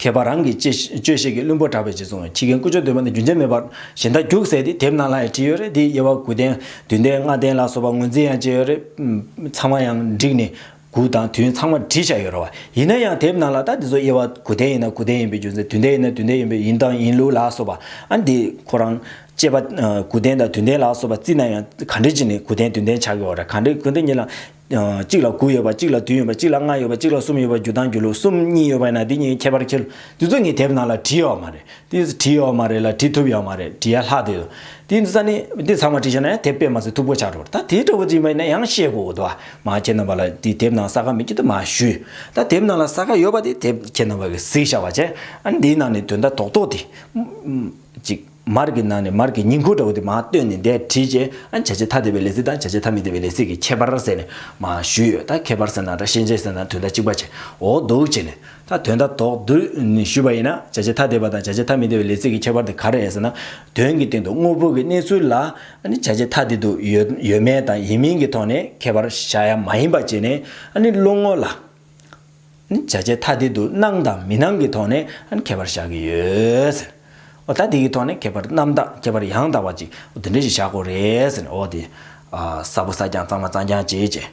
མཁས་པ་རང་གིས་དཔྱོད་ཤེས་ཀྱི་བླུན་པོ་གྲགས་པའི་རྗེ་བཙུན་ཁྱི་རྒན་ཀུ་ཅོ་འདོད་པ་ནི་རྒྱུ་མཚན་མེད་པར་གཞི་མཐའ་རྒྱུག་ཟེར་ཏེ་དེབ་ནང་ལ་ཡང་བྲིས་ཡོད་རེད་དེའི་དབྱེ་བ་དགུ་ལྡན་བདུན་ལྡན་ལྔ་ལྡན་ལ་སོགས་པ་ངོས་འཛིན་ཡང་བྱས་ཡོད་རེད། ཚང་མ་ཡང་བསྒྲིགས་ནས་གུག་དང་དུས་ཡུན་ཚང་མ་བྲིས་བཞག་ཡོད་རེད་བ། ཡིན་ན་ཡང་དེབ་ནང་ལ་ད་འདི་ཚོ་དབྱེ་བ་དགུ་ལྡན་ཡིན་ན་དགུ་ལྡན་ཡིན་པའི་རྒྱུ་མཚན་དུས་ལྡན་ཡིན་ན་དུས་ལྡན་ཡིན་པའི་ཡིན་དང་ཡིན་ལུགས་ལ་སོགས་པ་ཨ་འདི་ཁོ་རང་དཔྱད་པ་དགུ་ལྡན་དང་དུས་ལྡན་ལ་སོགས་པ་བརྩིས་ན་ཡང་ག་འདྲི་ཅི་ནས་དགུ་ལྡན་དུས་ལྡན་ཆགས་ཡོད་རེད་ག་འདྲི་དགུ་ལྡན་ཉིད་ལ། གཅིག་ལ་དགུ་ཡོད་པ་གཅིག་ལ་བདུན་ཡོད་པ་གཅིག་ལ་ལྔ་ཡོད་པ་གཅིག་ལ་གསུམ་ཡོད་པ་རྒྱུ་དང་རྒྱུ་ལུགས་གསུམ་གཉིས་ཡོད་པ་ན་དེ་གཉིས་ཁྱད་པར་ཁྱད་ལུགས་འདི་ཚོ་ནི་དེབ་ནང་ལ་བྲིས་ཡོད་མ་རེད་དེ་བྲིས་ཡོད་མ་རེད་ལ་བྲིས་ཐུབ་ཡོད་མ་རེད་བྲིས་ཡ་ལྷག་དེ་ཡོད་དེ་འདི་ཚ་ནི་འདི་ཚང་མ་བྲིས་ཤེས་ན་ཡང་དེབ་དཔེ་མ་ཟད་ཐུབ་གོ་ཆག་འགྲོ་ད་དེ་འདྲ་བོ་བྲིས་མ་ཡིན་ན་ཡང་ཤེས་དགོས་དགོས་འདུག་མ་ཁྱེད་རྣམ་པ་ལ་དེ་དེབ་ནང་ས་ཁ་མི་ཁྱེད་དུ་མ་ཞུས་ད་དེབ་ནང་ལ་ས་ཁ་ཡོད་པ་དེ་དེབ་ཁྱེད་རྣམ་པ་གིས་གཟིགས་བཞག་པ་བྱས་ཨ་ནི་འདིའི་ནང་ནས་དོན་དག་རྡོག་རྡོག་དེ་ཅིག། མར་གྱི་ནང་ནས་མར་གྱི་ཉིང་ཁུ་འདྲ་བོ་དེ་མ་བཏོན་ནས་འདས་བྲིས་རྗེས་ཨ་བྱ་བྱེད་ཐ་དད་པའི་ལས་ཚིག་དང་བྱ་བྱེད་ཐ་མི་དད་པའི་ལས་ཚིག་གི་ཁྱད་པར་ཟེར་ནས་མ་ཞུས་ཡོད་ད་ཁྱད་པར་ཟེར་ན་དང་ཤེས་བྱེད་ཟེར་ན་དོན་དག་གཅིག་པ་བྱས་འོག་འདུག་བྱས་ནས་ད་དོན་དག་དོག་འདུག་ཞུས་པ་ཡིན་ན་བྱ་བྱེད་ཐ་དད་པ་དང་བྱ་བྱེད་ཐ་མི་དད་པའི་ལས་ཚིག་གི་ཁྱད་པར་དེ་ག་རེད་ཟེར་ན་དོན་གྱི་སྟེང་དུ་དངོས་པོ་གི་གནས་ཚུལ་ལ་བྱ་བྱེད་ཐ་དད་དུ་ཡོད་མེད་དང་ཡིན་མིན་གྱི་ཐོག་ནས་ཁྱད་པར་བྱ་ཡ་མ་ཡིན་པ་བྱས་ནས་བློ་ངོ་ལ། ནི་བྱ་བྱེད་ཐ་དད་དུ་སྣང་དང་མི་སྣང་གི་ཐོག་ནས་ཁྱད་པར་བཞག་གི་ཡོད། ཟེར། འོ་ད་དེ་གི་ཐོག་ནས་ཁྱད་པར་རྣམ་དག་ཁྱད་པར་ཡང་དག་པ་ཅིག་འདི་འདྲ་ཞིག་བཞག་གོ་རེ་ཟེར་ནས་འོ་དེ། སྲ་པོ་སྲ་རྐྱང་གཙང་མ་གཙང་རྐྱང་བྱེད་ཅེས།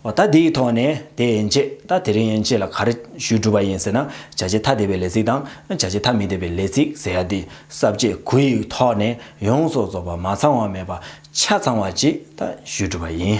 འོ་ད་དེ་ཡི་ཐོག་ནས་དེ་ཡན་ཆད་ད་དེ་རིང་ཡན་ཆད་ལ་ག་རེ་ཞུས་གྲུབ་པ་ཡིན་ཟེར་ན་བྱ་བྱེད་ཐ་དད་པའི་ལས་ཚིག་དང་བྱ་བྱེད་ཐ་མི་དད་པའི་ལས་ཚིག་ཟེར་ཡ་དེ་གསར་བརྗེ་གུ་ཡི་ཐོག་ནས་ཡོངས་སུ་རྫོགས་པ་མ་ཚང་བ་མེད་པ་ཆ་ཚང་བ་ཅིག་ད་ཞུས་གྲུབ་པ་ཡིན།